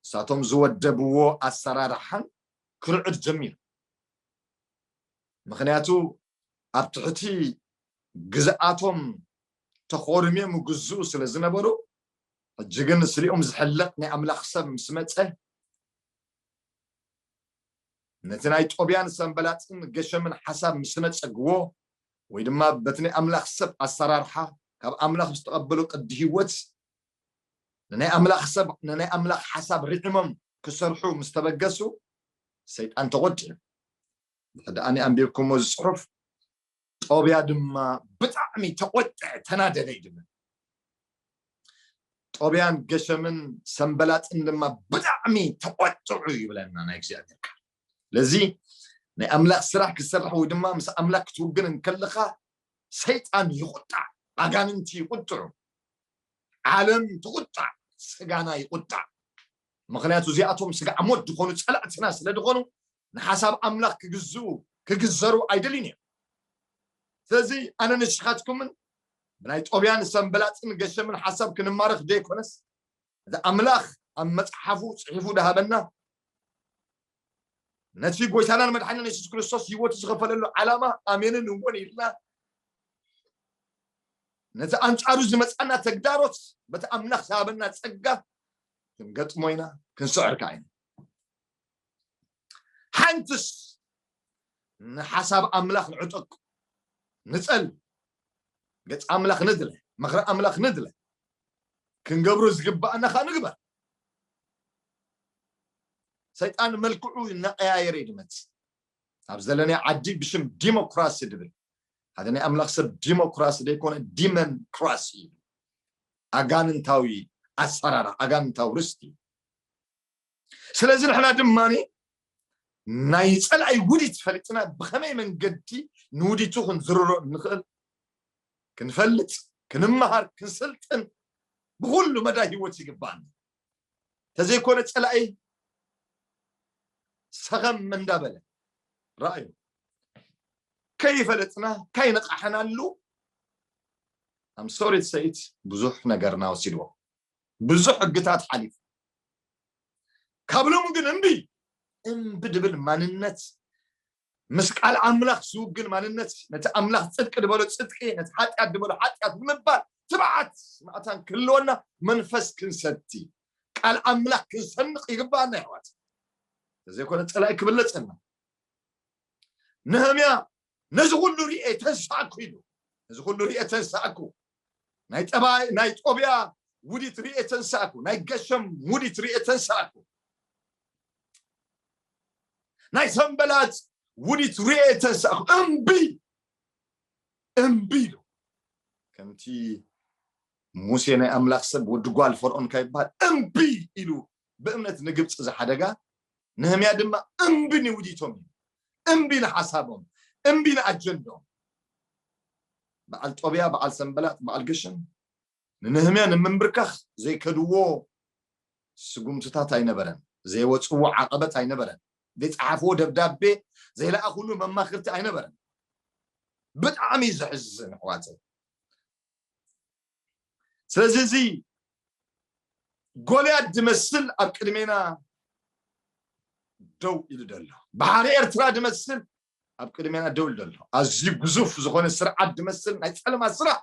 እሳቶም ዝወደብዎ ኣሰራርሓን ክርዕድ ጀሚሩ ምክንያቱ ኣብ ትሕቲ ግዝኣቶም ተኾርምዮም ይግዝኡ ስለ ዝነበሩ ሕጂ ግን ስሊኦም ዝሕለቕ ናይ ኣምላኽ ሰብ ምስ መጸ ነቲ ናይ ጦብያን ሰንበላጥን ገሸምን ሓሳብ ምስ ነጸግዎ ወይ ድማ በቲ ናይ ኣምላኽ ሰብ ኣሰራርሓ ካብ ኣምላኽ ዝተቐበሉ ቅዲ ህይወት ንናይ ኣምላኽ ሰብ ንናይ ኣምላኽ ሓሳብ ርዒሞም ክሰርሑ ምስ ተበገሱ ሰይጣን ተቖጢዑ ድሕሪ ኣነ ኣንቢብኩሞ እዚ ጽሑፍ ጦብያ ድማ ብጣዕሚ ተቆጥዐ ተናደደ እዩ ድብል ጦብያን ገሸምን ሰንበላጥን ድማ ብጣዕሚ ተቆጥዑ ይብለና ናይ እግዚኣብሔር ቃል ለዚ ናይ ኣምላኽ ስራሕ ክትሰርሕ ወይ ድማ ምስ ኣምላኽ ክትውግን እንከለኻ ሰይጣን ይቁጣዕ ኣጋንንቲ ይቁጥዑ ዓለም ትቁጣዕ ስጋና ይቁጣዕ ምክንያቱ እዚኣቶም ስጋ ሞት ዝኾኑ ፀላእትና ስለ ዝኾኑ ንሓሳብ ኣምላኽ ክግዝኡ ክግዘሩ ኣይደልዩን እዮም። ስለዚ ኣነ ንስኻትኩምን ብናይ ጦብያን ሰንበላጥን ገሸምን ሓሳብ ክንማረኽ ዘይኮነስ እዚ ኣምላኽ ኣብ መጽሓፉ ጽሒፉ ድሃበና ነቲ ጎይታናን መድሓኒን የሱስ ክርስቶስ ህይወቱ ዝኸፈለሉ ዓላማ ኣሜንን እውን ኢልና ነቲ ኣንጻሩ ዝመጻና ተግዳሮት በቲ ኣምላኽ ዝሃበና ጸጋ ክንገጥሞ ኢና ክንስዕር ከዓ ኢና ሓንትስ ንሓሳብ ኣምላኽ ንዕጠቁ ንጸል ገጽ ኣምላኽ ንድለ ምኽሪ ኣምላኽ ንድለ ክንገብሮ ዝግባኣና ኸ ንግበር ሰይጣን መልክዑ እናቀያየረ እዩ ድመጽእ ኣብ ዘለናይ ዓዲ ብሽም ዲሞክራሲ ድብል ሓደ ናይ ኣምላኽ ሰብ ዲሞክራሲ ዘይኮነ ዲመንክራሲ እዩ ኣጋንንታዊ ኣሰራራ ኣጋንንታዊ ርስቲ እዩ ስለዚ ንሕና ድማ ናይ ጸላኢ ውዲት ፈሊጥና ብኸመይ መንገዲ ንውዲቱ ክንዝርሮ እንኽእል ክንፈልጥ ክንመሃር ክንስልጥን ብኹሉ መዳይ ህይወት ይግባኣና ተዘይኮነ ጸላኢ ሰኸም እንዳበለ ረኣዩ ከይፈለጥና ከይነቃሕናሉ ኣምሶሪት ሰይት ብዙሕ ነገርና ወሲድዎ ብዙሕ ሕግታት ሓሊፉ ካብ ሎሚ ግን እምቢ እምቢ ድብል ማንነት ምስ ቃል ኣምላኽ ዝውግን ማንነት ነቲ ኣምላኽ ጽድቂ ድበሎ ጽድቂ ነቲ ሓጢኣት ድበሎ ሓጢኣት ንምባል ትብዓት ማእታን ክህልወና መንፈስ ክንሰቲ ቃል ኣምላኽ ክንሰንቕ ይግባኣና ይሕዋት ተዘይኮነ ጸላኢ ክብለጸና ነህምያ ነዚ ኹሉ ርእየ ተንሳእኩ ኢሉ። ነዚ ኹሉ ርእየ ተንሳእኩ። ናይ ጠባይ ናይ ጦብያ ውዲት ርእየ ተንሳእኩ። ናይ ገሸም ውዲት ርእየ ተንሳእኩ። ናይ ሰንበላጽ ውዲት ርእየ ተንሳእኩ። እምቢ እምቢ ኢሉ ከምቲ ሙሴ ናይ ኣምላኽ ሰብ ወዲ ጓል ፈርዖን ካብ ይበሃል እምቢ ኢሉ ብእምነት ንግብፂ ዝሓደጋ ነህምያ ድማ እምቢ ንውዲቶም ኢሉ፣ እምቢ ንሓሳቦም፣ እምቢ ንኣጀንድኦም። በዓል ጦብያ፣ በዓል ሰንበላጥ፣ በዓል ገሸም ንነህምያ ንምምብርካኽ ዘይከድዎ ስጉምትታት ኣይነበረን፣ ዘይወጽዎ ዓቐበት ኣይነበረን፣ ዘይጸሓፍዎ ደብዳቤ፣ ዘይለኣኹሉ መማኽርቲ ኣይነበረን። ብጣዕሚ እዩ ዘሕዝን ኣሕዋተይ። ስለዚ እዚ ጎልያድ ዝመስል ኣብ ቅድሜና ደው ኢሉ ዘሎ ባሕሪ ኤርትራ ዝመስል ኣብ ቅድሜና ደው ኢሉ ዘሎ ኣዝዩ ግዙፍ ዝኾነ ስርዓት ዝመስል ናይ ፀለማት ስራሕ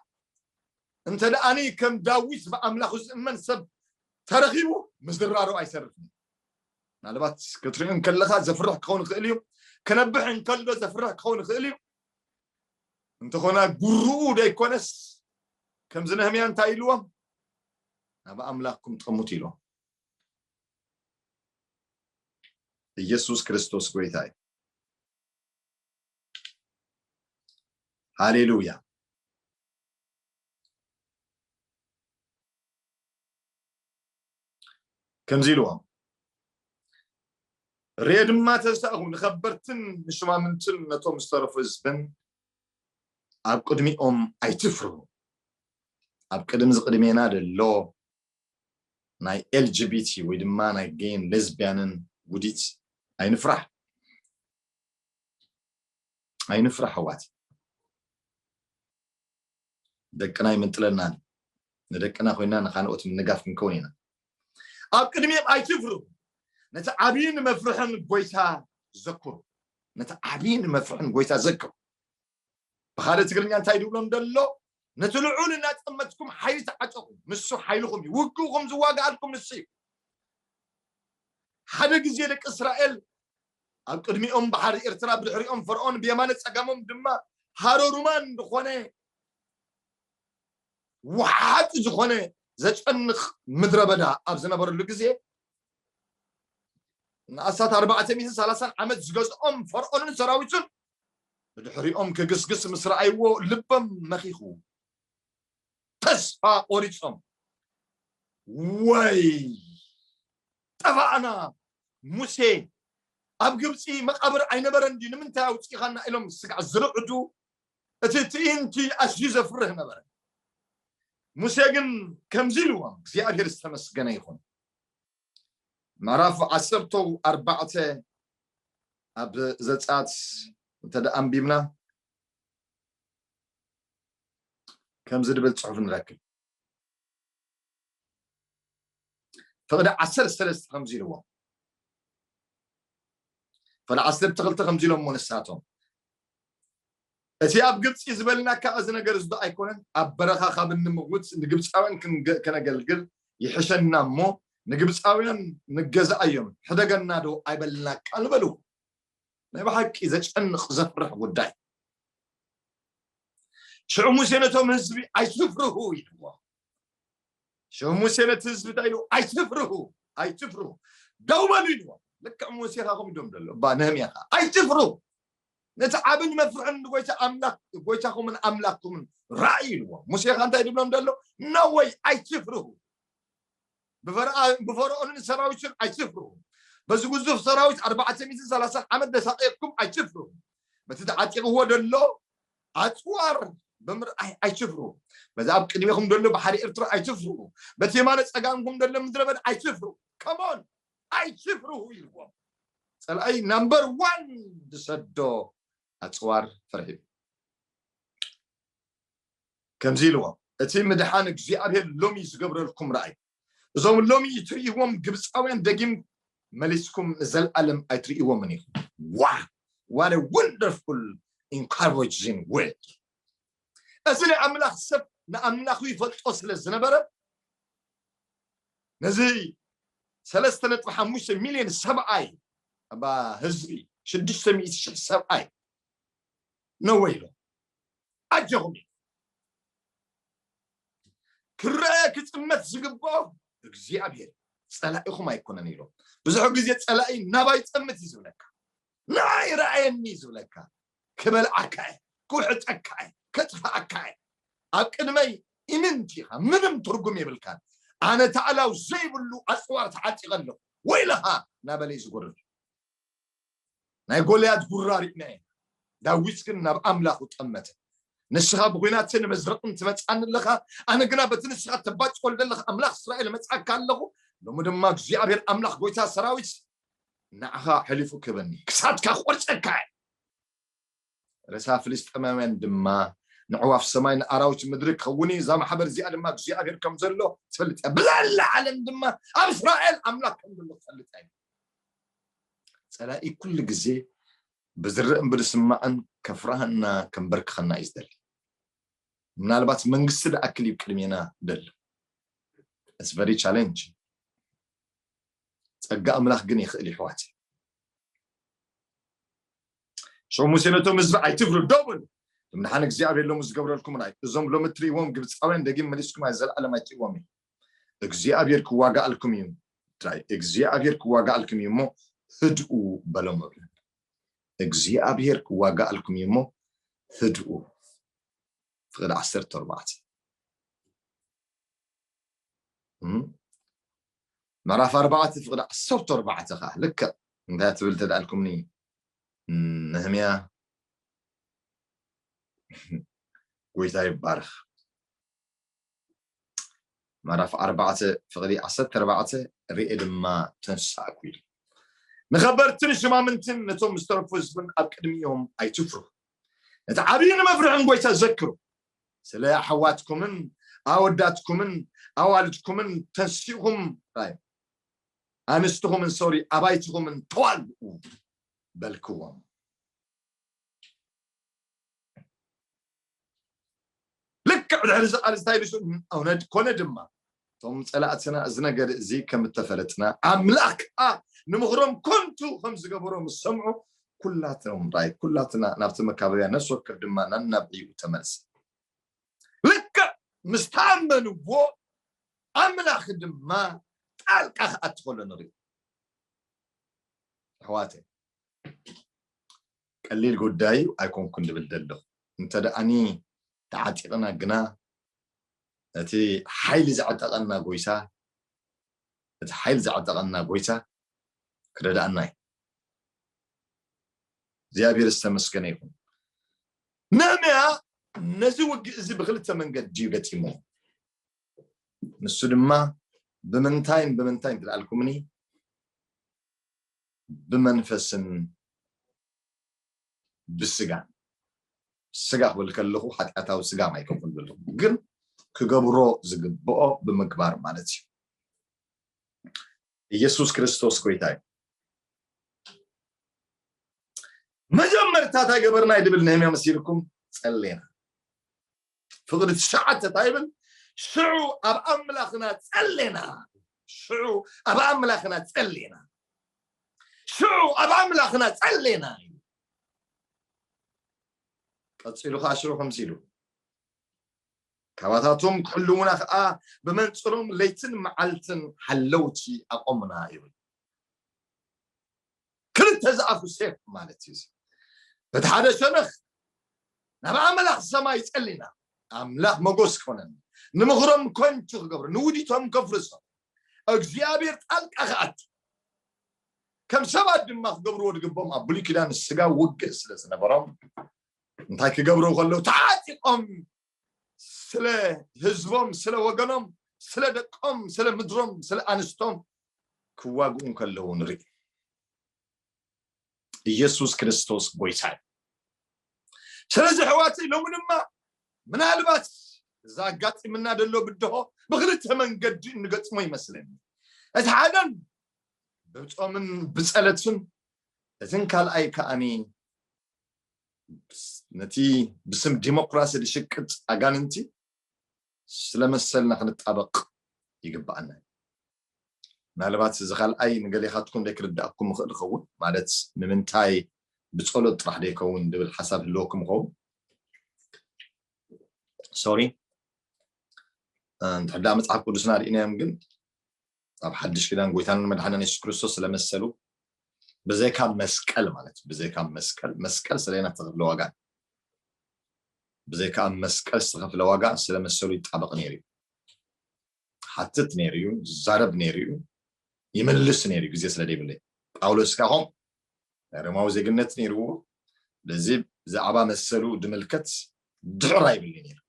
እንተ ደኣኒ ከም ዳዊት ብኣምላኹ ዝእመን ሰብ ተረኺቡ ምዝራሩ ኣይሰርፍን ምናልባት ክትሪኦ እንከለካ ዘፍርሕ ክኸውን ይኽእል እዩ ክነብሕ እንከሎ ዘፍርሕ ክኸውን ይኽእል እዩ እንተኾነ ጉሩኡ ደይኮነስ ከምዚ ነህምያ እንታይ ኢልዎም ናብ ኣምላክኩም ጠሙት ኢሎም ኢየሱስ ክርስቶስ ጎይታ እዩ ሃሌሉያ ከምዚ ኢልዎም ርኤ ድማ ተሳእኹ ንከበርትን ንሽማምንትን ነቶም ዝተረፉ ህዝብን ኣብ ቅድሚኦም ኣይትፍሩ ኣብ ቅድሚ ዝቅድሜና ደሎ ናይ ኤልጂቢቲ ወይ ድማ ናይ ጌይን ሌዝቢያንን ውዲት ኣይንፍራሕ ኣይንፍራሕ ኣዋት ደቅና ኣይምንጥለናን እዩ። ንደቅና ኮይና ንካልኦት ምንጋፍ ክንከውን ኢና። ኣብ ቅድሚኦም ኣይትፍሩ፣ ነቲ ዓብይን መፍርሕን ጎይታ ዘክሩ። ነቲ ዓብይን መፍርሕን ጎይታ ዘክሩ። ብካልእ ትግርኛ እንታይ ድብሎም ደሎ ነቲ ልዑል እናጠመትኩም ሓይሊ ተዓጠቑ ንሱ ሓይልኹም እዩ ውግእኹም ዝዋግኣልኩም ንሱ እዩ ሓደ ግዜ ደቂ እስራኤል ኣብ ቅድሚኦም ባሕሪ ኤርትራ ብድሕሪኦም ፈርኦን ብየማነ ጸጋሞም ድማ ሃሮሩማን ዝኾነ ወሓጢ ዝኾነ ዘጨንቕ ምድረ በዳ ኣብ ዝነበረሉ ግዜ ንኣስታት ኣርባዕተ ሚእትን ሰላሳን ዓመት ዝገዝኦም ፈርኦንን ሰራዊቱን ብድሕሪኦም ክግስግስ ምስ ረኣይዎ ልበም መኺኹ ተስፋ ቆሪጾም ወይ ጠፋእና ሙሴ ኣብ ግብፂ መቃብር ኣይነበረን ድዩ ንምንታይ ኣውፅኢኻና ኢሎም ስጋዕ ዝርዕዱ እቲ ትእይንቲ ኣዝዩ ዘፍርህ ነበረ ሙሴ ግን ከምዚ ኢልዎም እግዚኣብሔር ዝተመስገነ ይኹን ምዕራፍ ዓሰርተ ኣርባዕተ ኣብ ዘፃት እንተ ኣንቢብና ከምዚ ድብል ጽሑፍ ንረክብ ፍቕዲ ዓሰርተ ሰለስተ ከምዚ ኢልዎ ፍቕዲ ዓሰርተ ክልተ ከምዚ ኢሎሞ ንሳቶም እቲ ኣብ ግብፂ ዝበልና ካብ እዚ ነገር ዝዶ ኣይኮነን ኣብ በረኻ ካብ እንምውት ንግብፃውያን ከነገልግል ይሕሸና እሞ ንግብፃውያን ንገዛእ እዮም ሕደገና ዶ ኣይበልናካ ንበልዎ ናይ ብሓቂ ዘጨንቕ ዘፍርሕ ጉዳይ ሽዑ ሙሴ ነቶም ህዝቢ ኣይትፍርሁ ኢልዎ ሽዑ ሙሴ ነቲ ህዝቢ እንታይ ኢልዎ ኣይትፍርሁ ኣይትፍርሁ ደው በሉ ኢልዎ ልክዕ ሙሴ ካ ከምኡ ዶም ዘሎ እባ ነህምያ ካ ኣይትፍርሁ ነቲ ዓብን መፍርሕን ንጎይታ ኣምላኽ ጎይታኹምን ኣምላኽኩምን ራእይ ኢልዎ ሙሴ ካ እንታይ ድብሎም ደሎ ነወይ ኣይትፍርሁ ብፈርኦንን ሰራዊቱን ኣይትፍርሁ፣ በዚ ግዙፍ ሰራዊት ኣርባዕተ ሚእትን ሰላሳን ዓመት ዘሳቐየኩም ኣይትፍርሁ፣ በቲ ተዓጢቕዎ ዘሎ ኣጽዋር ብምርኣይ ኣይትፍርሁ፣ በዚ ኣብ ቅድሜኹም ዘሎ ባሕሪ ኤርትራ ኣይትፍርሁ፣ በቲ የማነ ጸጋምኩም ዘሎ ምድረ በዳ ኣይትፍርሁ፣ come on ኣይትፍርሁ ኢልዎም። ጸላኢ ናምበር ዋን ዝሰዶ ኣጽዋር ፍርሒ እዩ። ከምዚ ኢልዎም፣ እቲ ምድሓን እግዚኣብሄር ሎሚ ዝገብረልኩም ርኣዩ። እዞም ሎሚ እትርእይዎም ግብጻውያን ደጊም መሊስኩም ንዘልኣለም ኣይትርእይዎምን ኢኹም። Wow! What a wonderful encouraging word! እዚ ናይ ኣምላኽ ሰብ ንኣምላኹ ይፈልጦ ስለ ዝነበረ ነዚ ሰለስተ ነጥቢ ሓሙሽተ ሚልዮን ሰብኣይ ኣባ ህዝቢ ሽዱሽተ ሚእቲ ሽሕ ሰብኣይ ነወ ኢሎ ኣጀኹም እዩ ክረኣየ ክጥመት ዝግብኦ እግዚኣብሔር ፀላኢኹም ኣይኮነን ኢሎም ብዙሕ ግዜ ፀላኢ ናባይ ፀምት እዩ ዝብለካ ንዓይ ረኣየኒ እዩ ዝብለካ ክበልዓካ እየ ክውሕጠካ እየ ከጥፍኣካ እየ ኣብ ቅድመይ ኢምንቲ ኢኻ ምንም ትርጉም የብልካን ኣነ ታዕላው ዘይብሉ ኣፅዋር ተዓጢቐ ኣለኹ ወይለኻ ናበለይ ዝጎርር ናይ ጎልያድ ሁራ ሪእና ኢና ዳዊት ግን ናብ ኣምላኩ ጠመተ ንስካ ብኩናትን መዝረቅን ትመጽኣኒ ኣለካ ኣነ ግና በቲ ንስካ ተባጭወል ዘለካ ኣምላክ እስራኤል እመጽኣካ ኣለኩ ሎሚ ድማ እግዚኣብሔር ኣምላክ ጎይታ ሰራዊት ንዓካ ሐሊፉ ክህበኒ ክሳድካ ክቆርጸካ እየ ሬሳ ፍልስጥኤማውያን ድማ ንኣዕዋፍ ሰማይ ንኣራዊት ምድሪ ክኸውን እዩ፣ እዛ ማሕበር እዚኣ ድማ እግዚኣብሄር ከም ዘሎ ትፈልጥ እያ፣ ብዘላ ዓለም ድማ ኣብ እስራኤል ኣምላኽ ከም ዘሎ ትፈልጥ እያ። ጸላኢ ኩሉ ግዜ ብዝረእን ብዝስማዕን ከፍርሃና ከንበርክኸና እዩ ዝደሊ። ምናልባት መንግስቲ ዝኣክል እዩ ቅድሜና ደሎ ስ ቨሪ ቻለንጅ ጸጋ ኣምላኽ ግን ይኽእል ይሕዋት ሸው ሙሴ ነቶም ህዝቢ ኣይትፍሩ ደው በሉ እምድሓን እግዚኣብሔር ሎሚ ዝገብረልኩምን ኣይ እዞም ሎሚ እትርእይዎም ግብፃውያን ደጊም መሊስኩም ኣይ ዘለኣለም ኣይትርእይዎም እዩ እግዚኣብሔር ክዋጋኣልኩም እዩ እንታይ እግዚኣብሔር ክዋጋኣልኩም እዩ እሞ ህድኡ በሎም እብለ እግዚኣብሔር ክዋጋኣልኩም እዩ እሞ ህድኡ ፍቅዲ ዓሰርተ ኣርባዕተ ምዕራፍ ኣርባዕተ ፍቅዲ ዓሰርተ ኣርባዕተ ከኣ ልክዕ እንታይ ትብል እንተ ኣልኩምኒ ነህምያ ጎይታ ይባረኽ ምዕራፍ ኣርባዕተ ፍቅዲ ዓሰርተ ኣርባዕተ ርኤ ድማ ተንሳእኩ ኢሉ ንኸበርትን ሽማምንትን ነቶም ዝተረፉ ህዝብን ኣብ ቅድሚኦም ኣይትፍሩ እቲ ዓብይን መፍርሕን ጎይታ ዘክሩ ስለ ኣሕዋትኩምን ኣወዳትኩምን ኣዋልድኩምን ተንሲእኹም ራዩ ኣንስትኹምን ሶሪ ኣባይትኹምን ተዋልኡ በልክዎም ልክዕ ድሕሪ እዚ ቃልዚ ታይ ኢሉ ስእኑ ኮነ ድማ እቶም ፀላእትና እዚ ነገር እዚ ከም እተፈለጥና ኣምላኽ ከዓ ንምኽሮም ኮንቱ ከም ዝገበሮ ምስ ሰምዑ ኩላቶም ራይ ኩላትና ናብቲ መካበብያ ነፍሲ ወከፍ ድማ ናናብ ዕይኡ ተመልሰ ልክዕ ምስ ተኣመንዎ ኣምላኽ ድማ ጣልቃ ክኣቲ ከሎ ንሪኦ ኣሕዋተይ ቀሊል ጉዳይ ኣይኮንኩን ዝብል ዘለኹ። እንተደኣኒ ተዓጢቕና ግና ነቲ ሓይሊ ዘዕጠቐና ጎይታ ነቲ ሓይል ዘዕጠቐና ጎይታ ክረድኣና እዩ። እግዚኣብሔር ዝተመስገነ ይኹን። ነህምያ ነዚ ውግእ እዚ ብክልተ መንገድ ድዩ ገጢሞ ንሱ ድማ ብምንታይን ብምንታይን ትልኣልኩምኒ ብመንፈስን ብስጋን ስጋ ክብል ከለኹ ሓጢኣታዊ ስጋ ማይ ከም ክብል ዘለኹ ግን ክገብሮ ዝግብኦ ብምግባር ማለት እዩ ኢየሱስ ክርስቶስ ጎይታ እዩ መጀመርታ እንታይ ገበርና ይድብል ነህምያ መሲልኩም ጸሌና ፍቅዲ ትሽዓተ እንታይ ይብል ሽዑ ኣብ ኣምላኽና ጸሌና ሽዑ ኣብ ኣምላኽና ጸሌና ሽዑ ኣብ ኣምላኽና ጸሌና እዩ ቀፂሉ ከዓ ሽዑ ከምዚ ኢሉ ካባታቶም ክሕልውና ከዓ ብመንፅሮም ለይትን መዓልትን ሓለውቲ ኣቆምና ይብል ክልተ ዝኣፉ ሴፍ ማለት እዩ እዚ በቲ ሓደ ሸነኽ ናብ ኣምላኽ ሰማይ ጸሊና ኣምላኽ መጎስ ክኾነኒ ንምኽሮም ኮንቹ ክገብሮ ንውዲቶም ከፍርሶ እግዚኣብሔር ጣልቃ ክኣቱ ከም ሰባት ድማ ክገብርዎ ዝግብኦም ኣብ ብሉይ ኪዳን ስጋ ውግእ ስለ ዝነበሮም እንታይ ክገብሩ ከለዉ ተዓጢቆም ስለ ህዝቦም ስለ ወገኖም ስለ ደቆም ስለ ምድሮም ስለ ኣንስቶም ክዋግኡ እንከለዉ ንርኢ ኢየሱስ ክርስቶስ ጎይታ እዩ ስለዚ ሕዋተይ ሎሚ ድማ ምናልባት እዛ ኣጋጢምና ደሎ ብድሆ ብክልተ መንገዲ እንገጥሞ ይመስለኒ እቲ ሓደን ብፆምን ብፀለትን እትን ካልኣይ ከዓኒ ነቲ ብስም ዲሞክራሲ ዝሽቅጥ ኣጋንንቲ ስለ መሰልና ክንጣበቕ ይግባኣና እዩ ምናልባት እዚ ካልኣይ ንገሌኻትኩም ዘይክርዳእኩም ይኽእል ይኸውን ማለት ንምንታይ ብፀሎት ጥራሕ ዘይከውን ዝብል ሓሳብ ህልወኩም ይኸውን ሶሪ እንድሕዳ መፅሓፍ ቅዱስና ርኢናዮም ግን ኣብ ሓድሽ ኪዳን ጎይታን መድሓንን የሱስ ክርስቶስ ስለመሰሉ ብዘይካ መስቀል ማለት ብዘይካ መስቀል መስቀል ስለና ዝተኸፍለ ዋጋ ብዘይካ ኣብ መስቀል ዝተኸፍለ ዋጋ ስለመሰሉ ይጣበቕ ነይሩ እዩ ሓትት ነይሩ እዩ ዛረብ ነይሩ እዩ ይመልስ ነይሩ ግዜ ስለ ዘይብለይ ጳውሎስ ከዓ ኸም ናይ ሮማዊ ዜግነት ነይርዎ በዚ ብዛዕባ መሰሉ ድምልከት ድሕር ኣይብልኒ ነይሩ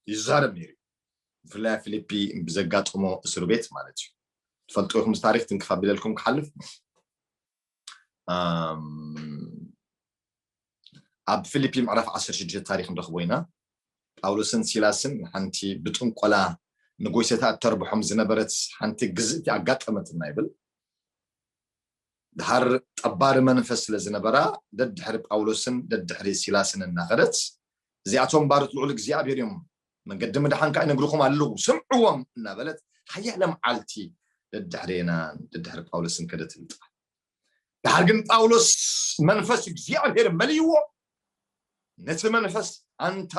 ይዛረብ ነይሩ ብፍላይ ኣብ ፊሊፒ ብዘጋጠሞ እስር ቤት ማለት እዩ ትፈልጡ ኢኹም ታሪክ ትንክፍ ኣቢለልኩም ክሓልፍ ኣብ ፊሊፒ ምዕራፍ 16 ታሪክ ንረክቦ ኢና ጳውሎስን ሲላስን ሓንቲ ብጥንቆላ ንጎይሰታ እተርብሖም ዝነበረት ሓንቲ ግዝእቲ ኣጋጠመትና ይብል ደሓር ጠባሪ መንፈስ ስለ ዝነበራ ደድሕሪ ጳውሎስን ደድሕሪ ሲላስን እናኸደት እዚኣቶም ባርት ልዑል እግዚኣብሔር እዮም መንገዲ ምድሓን ከዓ ይነግርኹም ኣለዉ ስምዕዎም እናበለት ሓያለ መዓልቲ ደድሕሬናን ደድሕሪ ጳውሎስን ከደት ልጥፋ ደሓር ግን ጳውሎስ መንፈስ እግዚኣብሔር መልይዎ ነቲ መንፈስ ኣንታ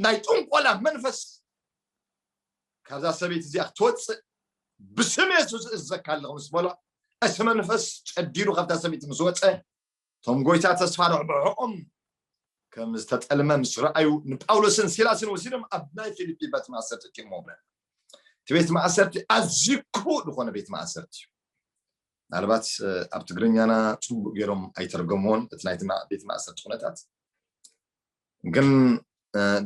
ናይ ጥንቆላ መንፈስ ካብዛ ሰበይቲ እዚኣ ክትወጽእ ብስም የሱስ እዘካ ኣለኹ ምስ በሎ እቲ መንፈስ ጨዲሩ ካብታ ሰበይቲ ምስ ወጸ እቶም ጎይታ ተስፋ ረብሖኦም ከም ዝተጠልመ ምስ ረኣዩ ንጳውሎስን ሲላስን ወሲዶም ኣብ ናይ ፊልፒ ቤት ማእሰርቲ ጢሞምለን እቲ ቤት ማእሰርቲ ኣዝዩ ክፉእ ዝኾነ ቤት ማእሰርቲ እዩ ምናልባት ኣብ ትግርኛና ፅቡቅ ገይሮም ኣይተርገምዎን እቲ ናይቲ ቤት ማእሰርቲ ኩነታት ግን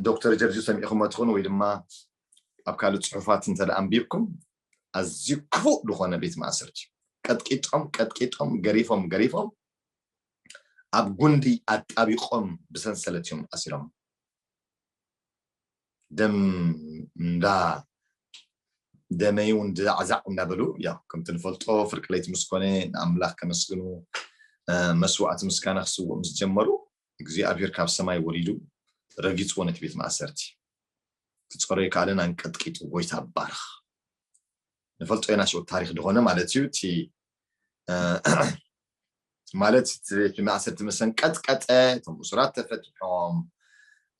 ዶክተር ጀርጆ ሰሚዕኹሞ ትኾኑ ወይ ድማ ኣብ ካልእ ጽሑፋት እንተ ኣንቢብኩም ኣዝዩ ክፉእ ዝኾነ ቤት ማእሰርቲ ቀጥቂጦም ቀጥቂጦም ገሪፎም ገሪፎም ኣብ ጉንዲ ኣጣቢቆም ብሰንሰለት እዮም ኣሲሮም ደም እንዳ ደመይ እውን ዛዕዛዕ እንዳበሉ ያ ከምቲ ንፈልጦ ፍርቂ ለይቲ ምስ ኮነ ንኣምላኽ ከመስግኑ መስዋእቲ ምስጋና ክስውእ ምስ ጀመሩ እግዚኣብሄር ካብ ሰማይ ወሪዱ ረጊጽዎ ነቲ ቤት ማእሰርቲ ክጸሮ ኣይከኣለን ኣንቀጥቂጡ ጎይታ ባርኽ ንፈልጦ ኢና ሽዑ ታሪክ ድኾነ ማለት እዩ እቲ ማለት እቲ ቤት ማእሰርቲ መሰንቀጥቀጠ እቶም እሱራት ተፈትሖም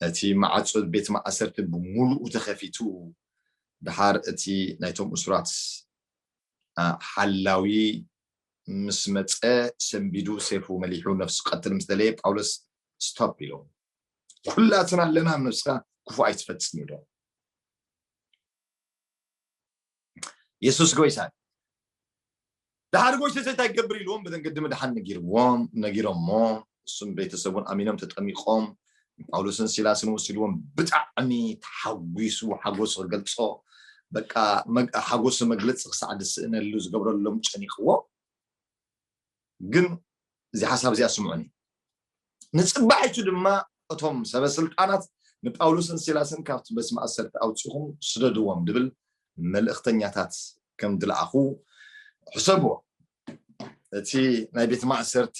እቲ ማዕፆ ቤት ማእሰርቲ ብምሉኡ ተኸፊቱ ድሓር እቲ ናይቶም እሱራት ሓላዊ ምስ መጸ ሰንቢዱ ሴፉ መሊሑ ነፍሱ ክቀትል ምስ ደለየ ጳውሎስ ስቶፕ ኢሉ ኩላትና ኣለና ኣብ ነፍስካ ክፉእ ኣይትፈጽም ኢሉ የሱስ ጎይታ ድሓር ጎይተሰ እንታይ ክገብር ኢልዎም ብመንገዲ ምድሓን ነጊርዎም ነጊሮሞ እሱም ቤተሰቡን ኣሚኖም ተጠሚቆም ጳውሎስን ሲላስን ወሲድዎም ብጣዕሚ ተሓጒሱ ሓጎሱ ክገልፆ በቃ ሓጎሱ መግለፂ ክሳዕ ዝስእነሉ ዝገብረሎም ጨኒቕዎ ግን እዚ ሓሳብ እዚኣ ስምዑኒ ንፅባሒቱ ድማ እቶም ሰበስልጣናት ንጳውሎስን ሲላስን ካብቲ በስ ማእሰርቲ ኣውፅኹም ስደድዎም ድብል መልእክተኛታት ከም ድለኣኹ ሕሰብዎ እቲ ናይ ቤት ማእሰርቲ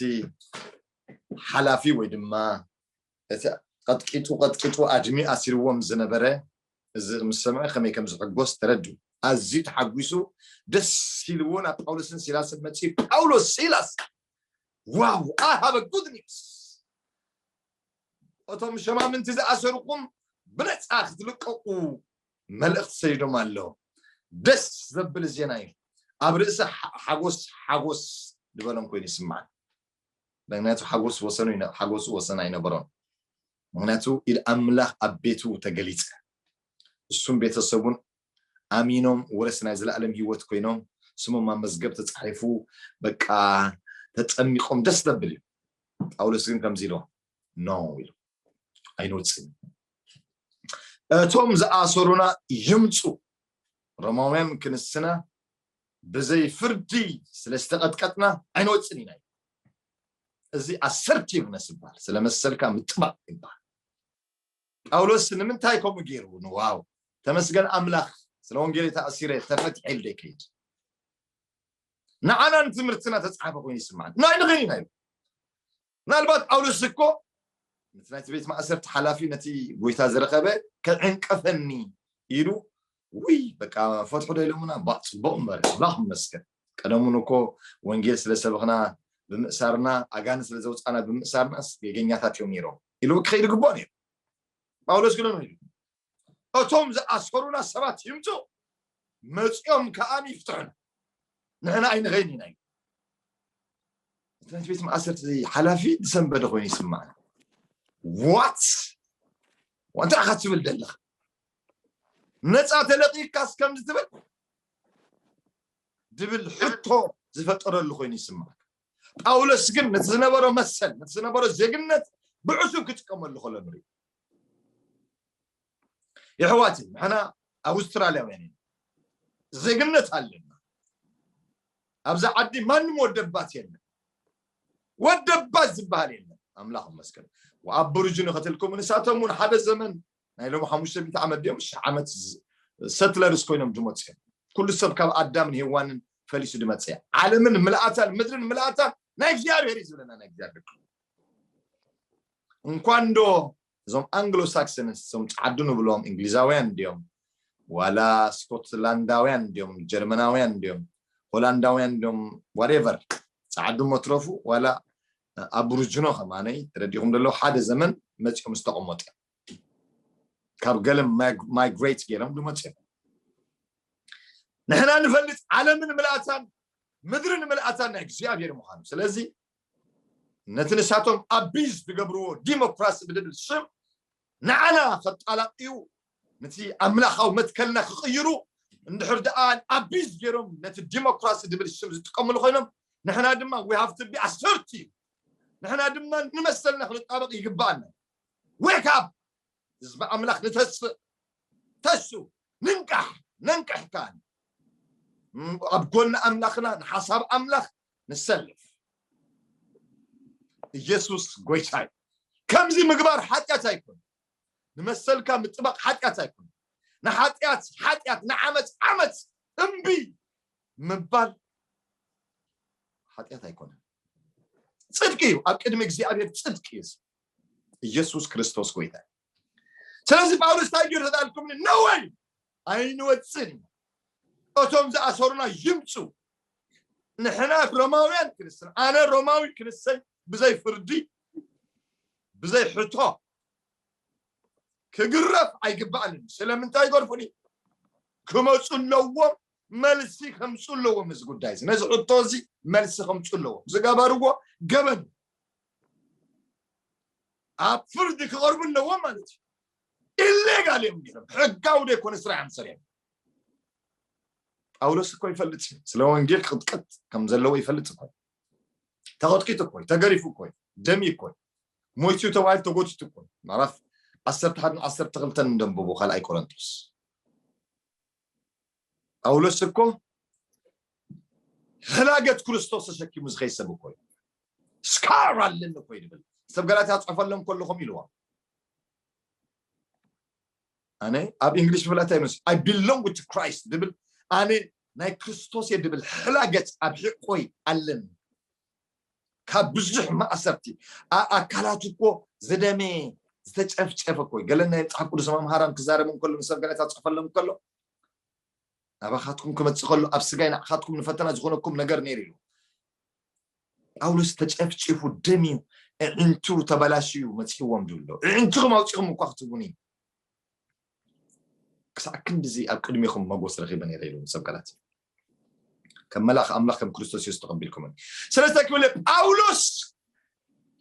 ሓላፊ ወይ ድማ እቲ ቀጥቂጡ ቀጥቂጡ ኣድሚ ኣሲርዎም ዝነበረ እዚ ምስ ሰምዐ ከመይ ከም ዝሕጎስ ተረዱ ኣዝዩ ተሓጒሱ ደስ ኢልዎ ናብ ጳውሎስን ሲላስን መጺኡ ጳውሎስ ሲላስ ዋው ኣይ ሃቭ ጉድ ኒውስ እቶም ሸማምንቲ ዝኣሰርኩም ብነፃ ክትልቀቁ መልእክቲ ሰዲዶም ኣለው ደስ ዘብል ዜና እዩ ኣብ ርእሲ ሓጎስ ሓጎስ ዝበሎም ኮይኑ ይስማዓን ምክንያቱ ሓጎስ ወሰኑ ሓጎሱ ወሰን ኣይነበሮን ምክንያቱ ኢድ ኣምላኽ ኣብ ቤቱ ተገሊጸ እሱም ቤተሰቡን ኣሚኖም ወረስ ናይ ዘለኣለም ህይወት ኮይኖም ስሞም ኣብ መዝገብ ተጻሒፉ በቃ ተጠሚቆም ደስ ዘብል እዩ ጳውሎስ ግን ከምዚ ኢሎ ኖ ኢሉ ኣይንወፅእን እቶም ዝኣሰሩና ይምፁ ሮማውያን ክንስና ብዘይ ፍርዲ ስለ ዝተቐጥቀጥና ኣይንወፅን ኢና እዚ ኣሰርቲቭነስ ይበሃል ስለ መሰልካ ምጥባቅ ይበሃል ጳውሎስ ንምንታይ ከምኡ ገይሩ ንዋው ተመስገን ኣምላኽ ስለ ወንጌል ተኣሲረ ተፈትሐ ኢሉ ዘይከይድ ንዓና ንትምህርትና ተፃሓፈ ኮይኑ ይስማዕ ናይ ንኽን ኢና ኢሉ ምናልባት ጳውሎስ እኮ ነቲ ናይቲ ቤት ማእሰርቲ ሓላፊ ነቲ ጎይታ ዝረኸበ ክዕንቀፈኒ ኢሉ ውይ በቃ ፈትሑ ዶ ኢሎምና ባ ፅቡቅ እምበር ኣምላኽ ይመስገን ቀደሙን እኮ ወንጌል ስለ ሰበኽና ብምእሳርና ኣጋን ስለ ዘውፃና ብምእሳርናስ ገገኛታት እዮም ነይሮም ኢሉ ክኸይድ ግባእ ነይሩ ጳውሎስ ግን ኢሉ እቶም ዝኣሰሩና ሰባት ይምጹ መጺኦም ከኣ ይፍትሑና ንሕና ኣይንኸይን ኢና ይብል እቲ ናይቲ ቤት ማእሰርቲ ሓላፊ ዝሰንበደ ኮይኑ ይስማዕና ዋት እንታይ ኢኻ ትብል ዘለኻ ነፃ ተለቂካስ ከምዚ ትብል ዝብል ሕቶ ዝፈጠረሉ ኮይኑ ይስማዕ ጳውሎስ ግን ነቲ ዝነበሮ መሰል ነቲ ዝነበሮ ዜግነት ብዕሱብ ክጥቀመሉ ከሎ ንሪኢ የሕዋት ንሕና ኣውስትራልያውያን ኢና ዜግነት ኣለና ኣብዚ ዓዲ ማንም ወደባት የለን ወደባት ዝበሃል የለን ኣምላኽ መስገን ኣብ ብርጁ ንኸትልኩም ንሳቶም እውን ሓደ ዘመን ናይ ሎም ሓሙሽተ ሚእቲ ዓመት ድዮም ሽሕ ዓመት ሰትለርስ ኮይኖም ድመፅ እዮም ኩሉ ሰብ ካብ ኣዳምን ሄዋንን ፈሊሱ ድመፀ ዓለምን ምልኣታን ምድርን ምልኣታን ናይ እግዚኣብሔር እዩ ዝብለና ናይ እግዚኣብሔር እንኳን ዶ እዞም ኣንግሎ ሳክሰንስ እዞም ፃዓዱ ንብሎም እንግሊዛውያን ድዮም ዋላ ስኮትላንዳውያን ድዮም ጀርመናውያን ድዮም ሆላንዳውያን ድዮም ዋሬቨር ፃዓዱ መትረፉ ዋላ ኣብሩጅኖ ከማነይ ተረዲኹም ደሎ ሓደ ዘመን መፂኦም ዝተቐመጡ ካብ ገለ ማይግሬት ገይሮም ዝመፁ እዮም ንሕና ንፈልጥ ዓለምን ምልኣታን ምድርን ምልኣታን ናይ እግዚኣብሔር ምዃኑ ስለዚ ነቲ ንሳቶም ኣቢዝ ዝገብርዎ ዲሞክራሲ ብልብል ሽም ንዓና ከጣላቅዩ ንቲ ኣምላካዊ መትከልና ክቅይሩ እንድሕር ደኣ ኣቢዝ ገይሮም ነቲ ዲሞክራሲ ዝብል ሽም ዝጥቀምሉ ኮይኖም ንሕና ድማ we have to be assertive ንሕና ድማ ንመሰልና ክንጣበቅ ይግባኣና wake up ህዝቢ ኣምላክ ንተስእ ተሱ ንንቃሕ ነንቅሕ ካን ኣብ ጎኒ ኣምላክና ንሓሳብ ኣምላክ ንሰልፍ ኢየሱስ ጎይታ እዩ ከምዚ ምግባር ሓጢኣት ኣይኮነ ንመሰልካ ምጥባቕ ሓጢኣት ኣይኮነ ንሓጢኣት ሓጢኣት ንዓመፅ ዓመፅ እምቢ ምባል ሓጢኣት ኣይኮነ ፅድቂ እዩ ኣብ ቅድሚ እግዚኣብሔር ፅድቂ እዩ ኢየሱስ ክርስቶስ ጎይታ እዩ ስለዚ ጳውሎስ እንታይ ገይሩ ተዳልኩም ነወይ ኣይንወፅን እቶም ዝኣሰሩና ይምፁ ንሕና ሮማውያን ክንስን ኣነ ሮማዊ ክንሰይ ብዘይ ፍርዲ ብዘይ ሕቶ ክግረፍ ኣይግባእን ስለምንታይ ይገርፉኒ ክመፁ ኣለዎም መልሲ ከምፁ ኣለዎም እዚ ጉዳይ እዚ ነዚ ሕቶ እዚ መልሲ ከምፁ ኣለዎም ዝገበርዎ ገበን ኣብ ፍርዲ ክቐርቡ ኣለዎም ማለት እዩ ኢሌጋል እዮም ገይሮም ሕጋዊ ዘይኮነ ስራሕ እዮም ሰሪሖም ጳውሎስ እኮ ይፈልጥ እዩ ስለ ወንጌል ክቕጥቀጥ ከም ዘለዎ ይፈልጥ እኮ ተቐጥቂጡ እኮ ተገሪፉ እኮ ደሚ እኮ ሞይቱ ተባሂሉ ተጎቲቱ እኮ ምዕራፍ ዓሰርተ ሓደን ዓሰርተ ክልተን እንደንብቡ ካልኣይ ቆረንቶስ ጳውሎስ እኮ ሕላገት ክርስቶስ ተሸኪሙ ዝኸይ ሰብ እኮ እዩ ስካር ኣለኒ እኮ እዩ ድብል ሰብ ገላትያ ፅሑፈሎም ከለኹም ኢልዎም ኣነ ኣብ እንግሊሽ ብላ እንታይ ይመስል ኣይ ቢሎንግ ቱ ክራይስት ድብል ኣነ ናይ ክርስቶስ እየ ድብል ሕላገት ኣብ ሕቆይ ኣለኒ ካብ ብዙሕ ማእሰርቲ ኣካላቱ እኮ ዝደመየ ዝተጨፍጨፈ እኮ ገለ ናይ መፅሓፍ ቅዱስ መምሃራን ክዛረብ እንከሎ ንሰብ ጋዜጣ ፅሕፈሎም ከሎ ናባኻትኩም ክመፅእ ከሎ ኣብ ስጋይ ንዓኻትኩም ንፈተና ዝኾነኩም ነገር ነይሩ ኢሉ ጳውሎስ ተጨፍጪፉ ደም እዩ እዕንቱ ተበላሽዩ መፅእዎም ድብሎ እዕንትኹም ኣውፂኹም እኳ ክትቡኒ ክሳዕ ክንድዚ ኣብ ቅድሚኹም መጎስ ረኺበ ነይረ ኢሉ ሰብ ቃላት ከም መልኣኽ ኣምላኽ ከም ክርስቶስ የሱስ ተቐቢልኩምኒ ስለ ዝተክብለ ጳውሎስ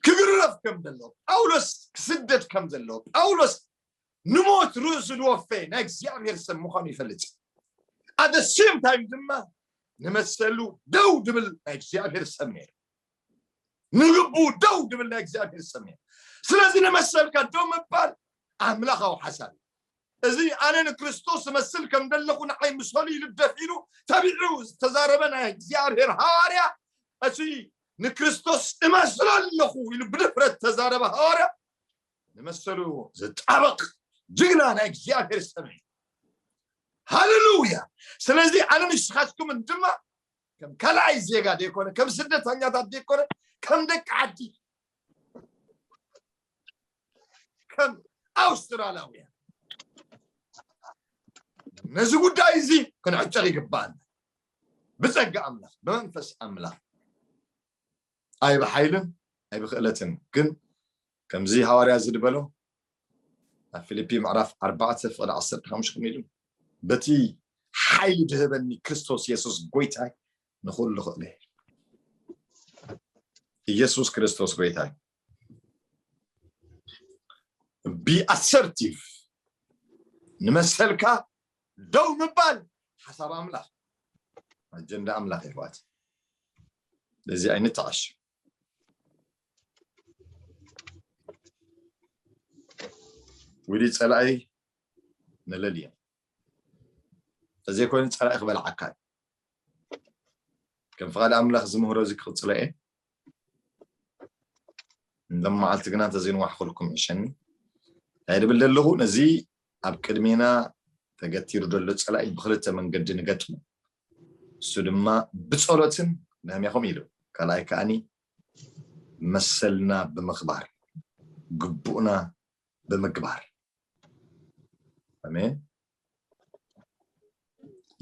ክግረፍ ከም ዘለዎ ጳውሎስ ክስደድ ከም ዘለዎ ጳውሎስ ንሞት ርእሱ ዝወፈየ ናይ እግዚኣብሔር ሰብ ምዃኑ ይፈልጥ ኣደ ሴም ታይም ድማ ንመሰሉ ደው ድብል ናይ እግዚኣብሔር ሰብ ነይሩ ንልቡ ደው ድብል ናይ እግዚኣብሔር ሰብ ነይሩ ስለዚ ንመሰልካ ደው ምባል ኣምላኻዊ ሓሳብ እዩ እዚ ኣነ ንክርስቶስ እመስል ከም ደለኹ ንዓይ ምሰሉ ይልደፍ ኢሉ ተቢዑ ዝተዛረበ ናይ እግዚኣብሔር ሃዋርያ እቲ ንክርስቶስ እመስሎ ኣለኹ ኢሉ ብድፍረት ተዛረበ ሃዋርያ ንመሰሉ ዝጣበቕ ጅግና ናይ እግዚኣብሔር ሰብ እዩ ሃሌሉያ ስለዚ ኣነ ንስኻትኩምን ድማ ከም ካልኣይ ዜጋ ዘይኮነ ከም ስደተኛታት ዘይኮነ ከም ደቂ ዓዲ ከም ኣውስትራልያውያን ነዚ ጉዳይ እዚ ክንዕጨር ይግባኣና ብፀጋ ኣምላኽ ብመንፈስ ኣምላኽ ኣይ ብሓይልን ኣይ ብክእለትን ግን ከምዚ ሃዋርያ እዚ ዝበሎ ኣብ ፊልፒ ምዕራፍ ኣርባዕተ ፍቕዲ ዓሰርተ ሓሙሽተ ከመይ ኢሉ በቲ ሓይሊ ድህበኒ ክርስቶስ የሱስ ጎይታይ ንኹሉ ክእለ ኢየሱስ ክርስቶስ ጎይታይ ቢኣሰርቲቭ ንመሰልካ ደው ምባል ሓሳብ ኣምላኽ ኣጀንዳ ኣምላኽ ይሕዋት ለዚ ኣይንተዓሽ ውዲ ፀላኢ መለል እዮም ተዘይኮይኑ ፀላኢ ክበልዓካ ከም ፍቓድ ኣምላኽ ዝምህሮ እዚ ክቕፅሎ እየ ለመዓልቲ ግና እንተዘይንዋሕኩልኩም ዕሸኒ እንታይ ድብል ዘለኹ ነዚ ኣብ ቅድሜና ተገቲሩ ዘሎ ፀላኢ ብክልተ መንገዲ ንገጥሙ እሱ ድማ ብፀሎትን ነህሚያኹም ኢሉ ካልኣይ ከዓኒ መሰልና ብምኽባር ግቡእና ብምግባር ኣሜን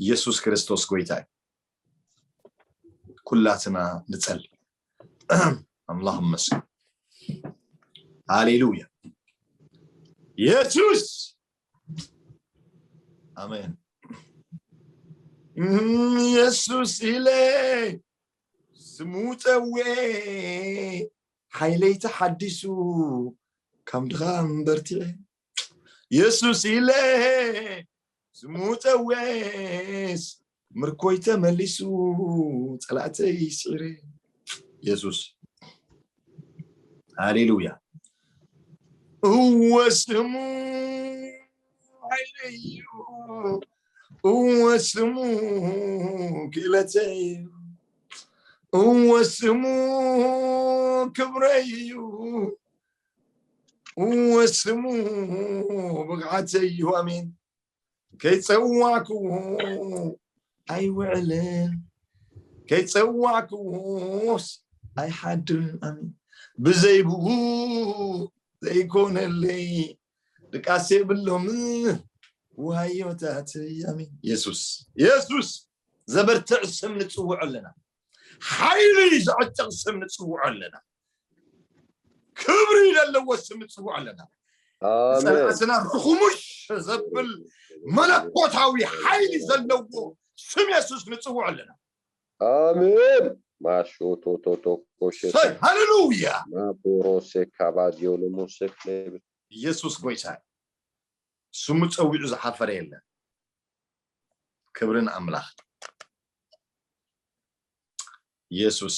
ኢየሱስ ክርስቶስ ጎይታ እዩ ኩላትና ንጸል ኣምላኽ መስል ሃሌሉያ ኢየሱስ ኣሜን ኢየሱስ ኢለ ስሙ ፀዌ ሓይለይ ተሓዲሱ ካብ ድኻም በርቲዐ የሱስ ኢለ ስሙ ፀዌስ ምርኮይ ተመሊሱ ፀላእተይ ስዒረ የሱስ ሃሌሉያ እወ ስሙ ሓይለዩ እወ ስሙ ክእለተይ እወ ስሙ ክብረዩ ወስሙ ብቕዓት ዘይሁ ኣሜን ከይፀዋዕክዎ ኣይውዕልን ከይፀዋዕክዎስ ኣይሓድርን ኣሜን ብዘይብኡ ዘይኮነለይ ድቃሴ የብሎምን ዋዮታት ኣሜን የሱስ የሱስ ዘበርትዕ ስም ንፅውዑ ኣለና ሓይሊ ዝዕጥቕ ስም ንጽውዖ ኣለና ክብሪ ዘለዎ ስም ንጽውዖ ኣለና ዝጸላእትና ርኹሙሽ ዘብል መለኮታዊ ሓይሊ ዘለዎ ስም የሱስ ንጽውዖ ኣለና ኣሜን ማሾ ቶቶቶ ኮሸት ሃሌሉያ ናቦሮሴ ካባዲዮ ሎሞሴ ኢየሱስ ጎይታ ስሙ ጸዊዑ ዝሓፈረ የለን ክብርን ኣምላኽ ኢየሱስ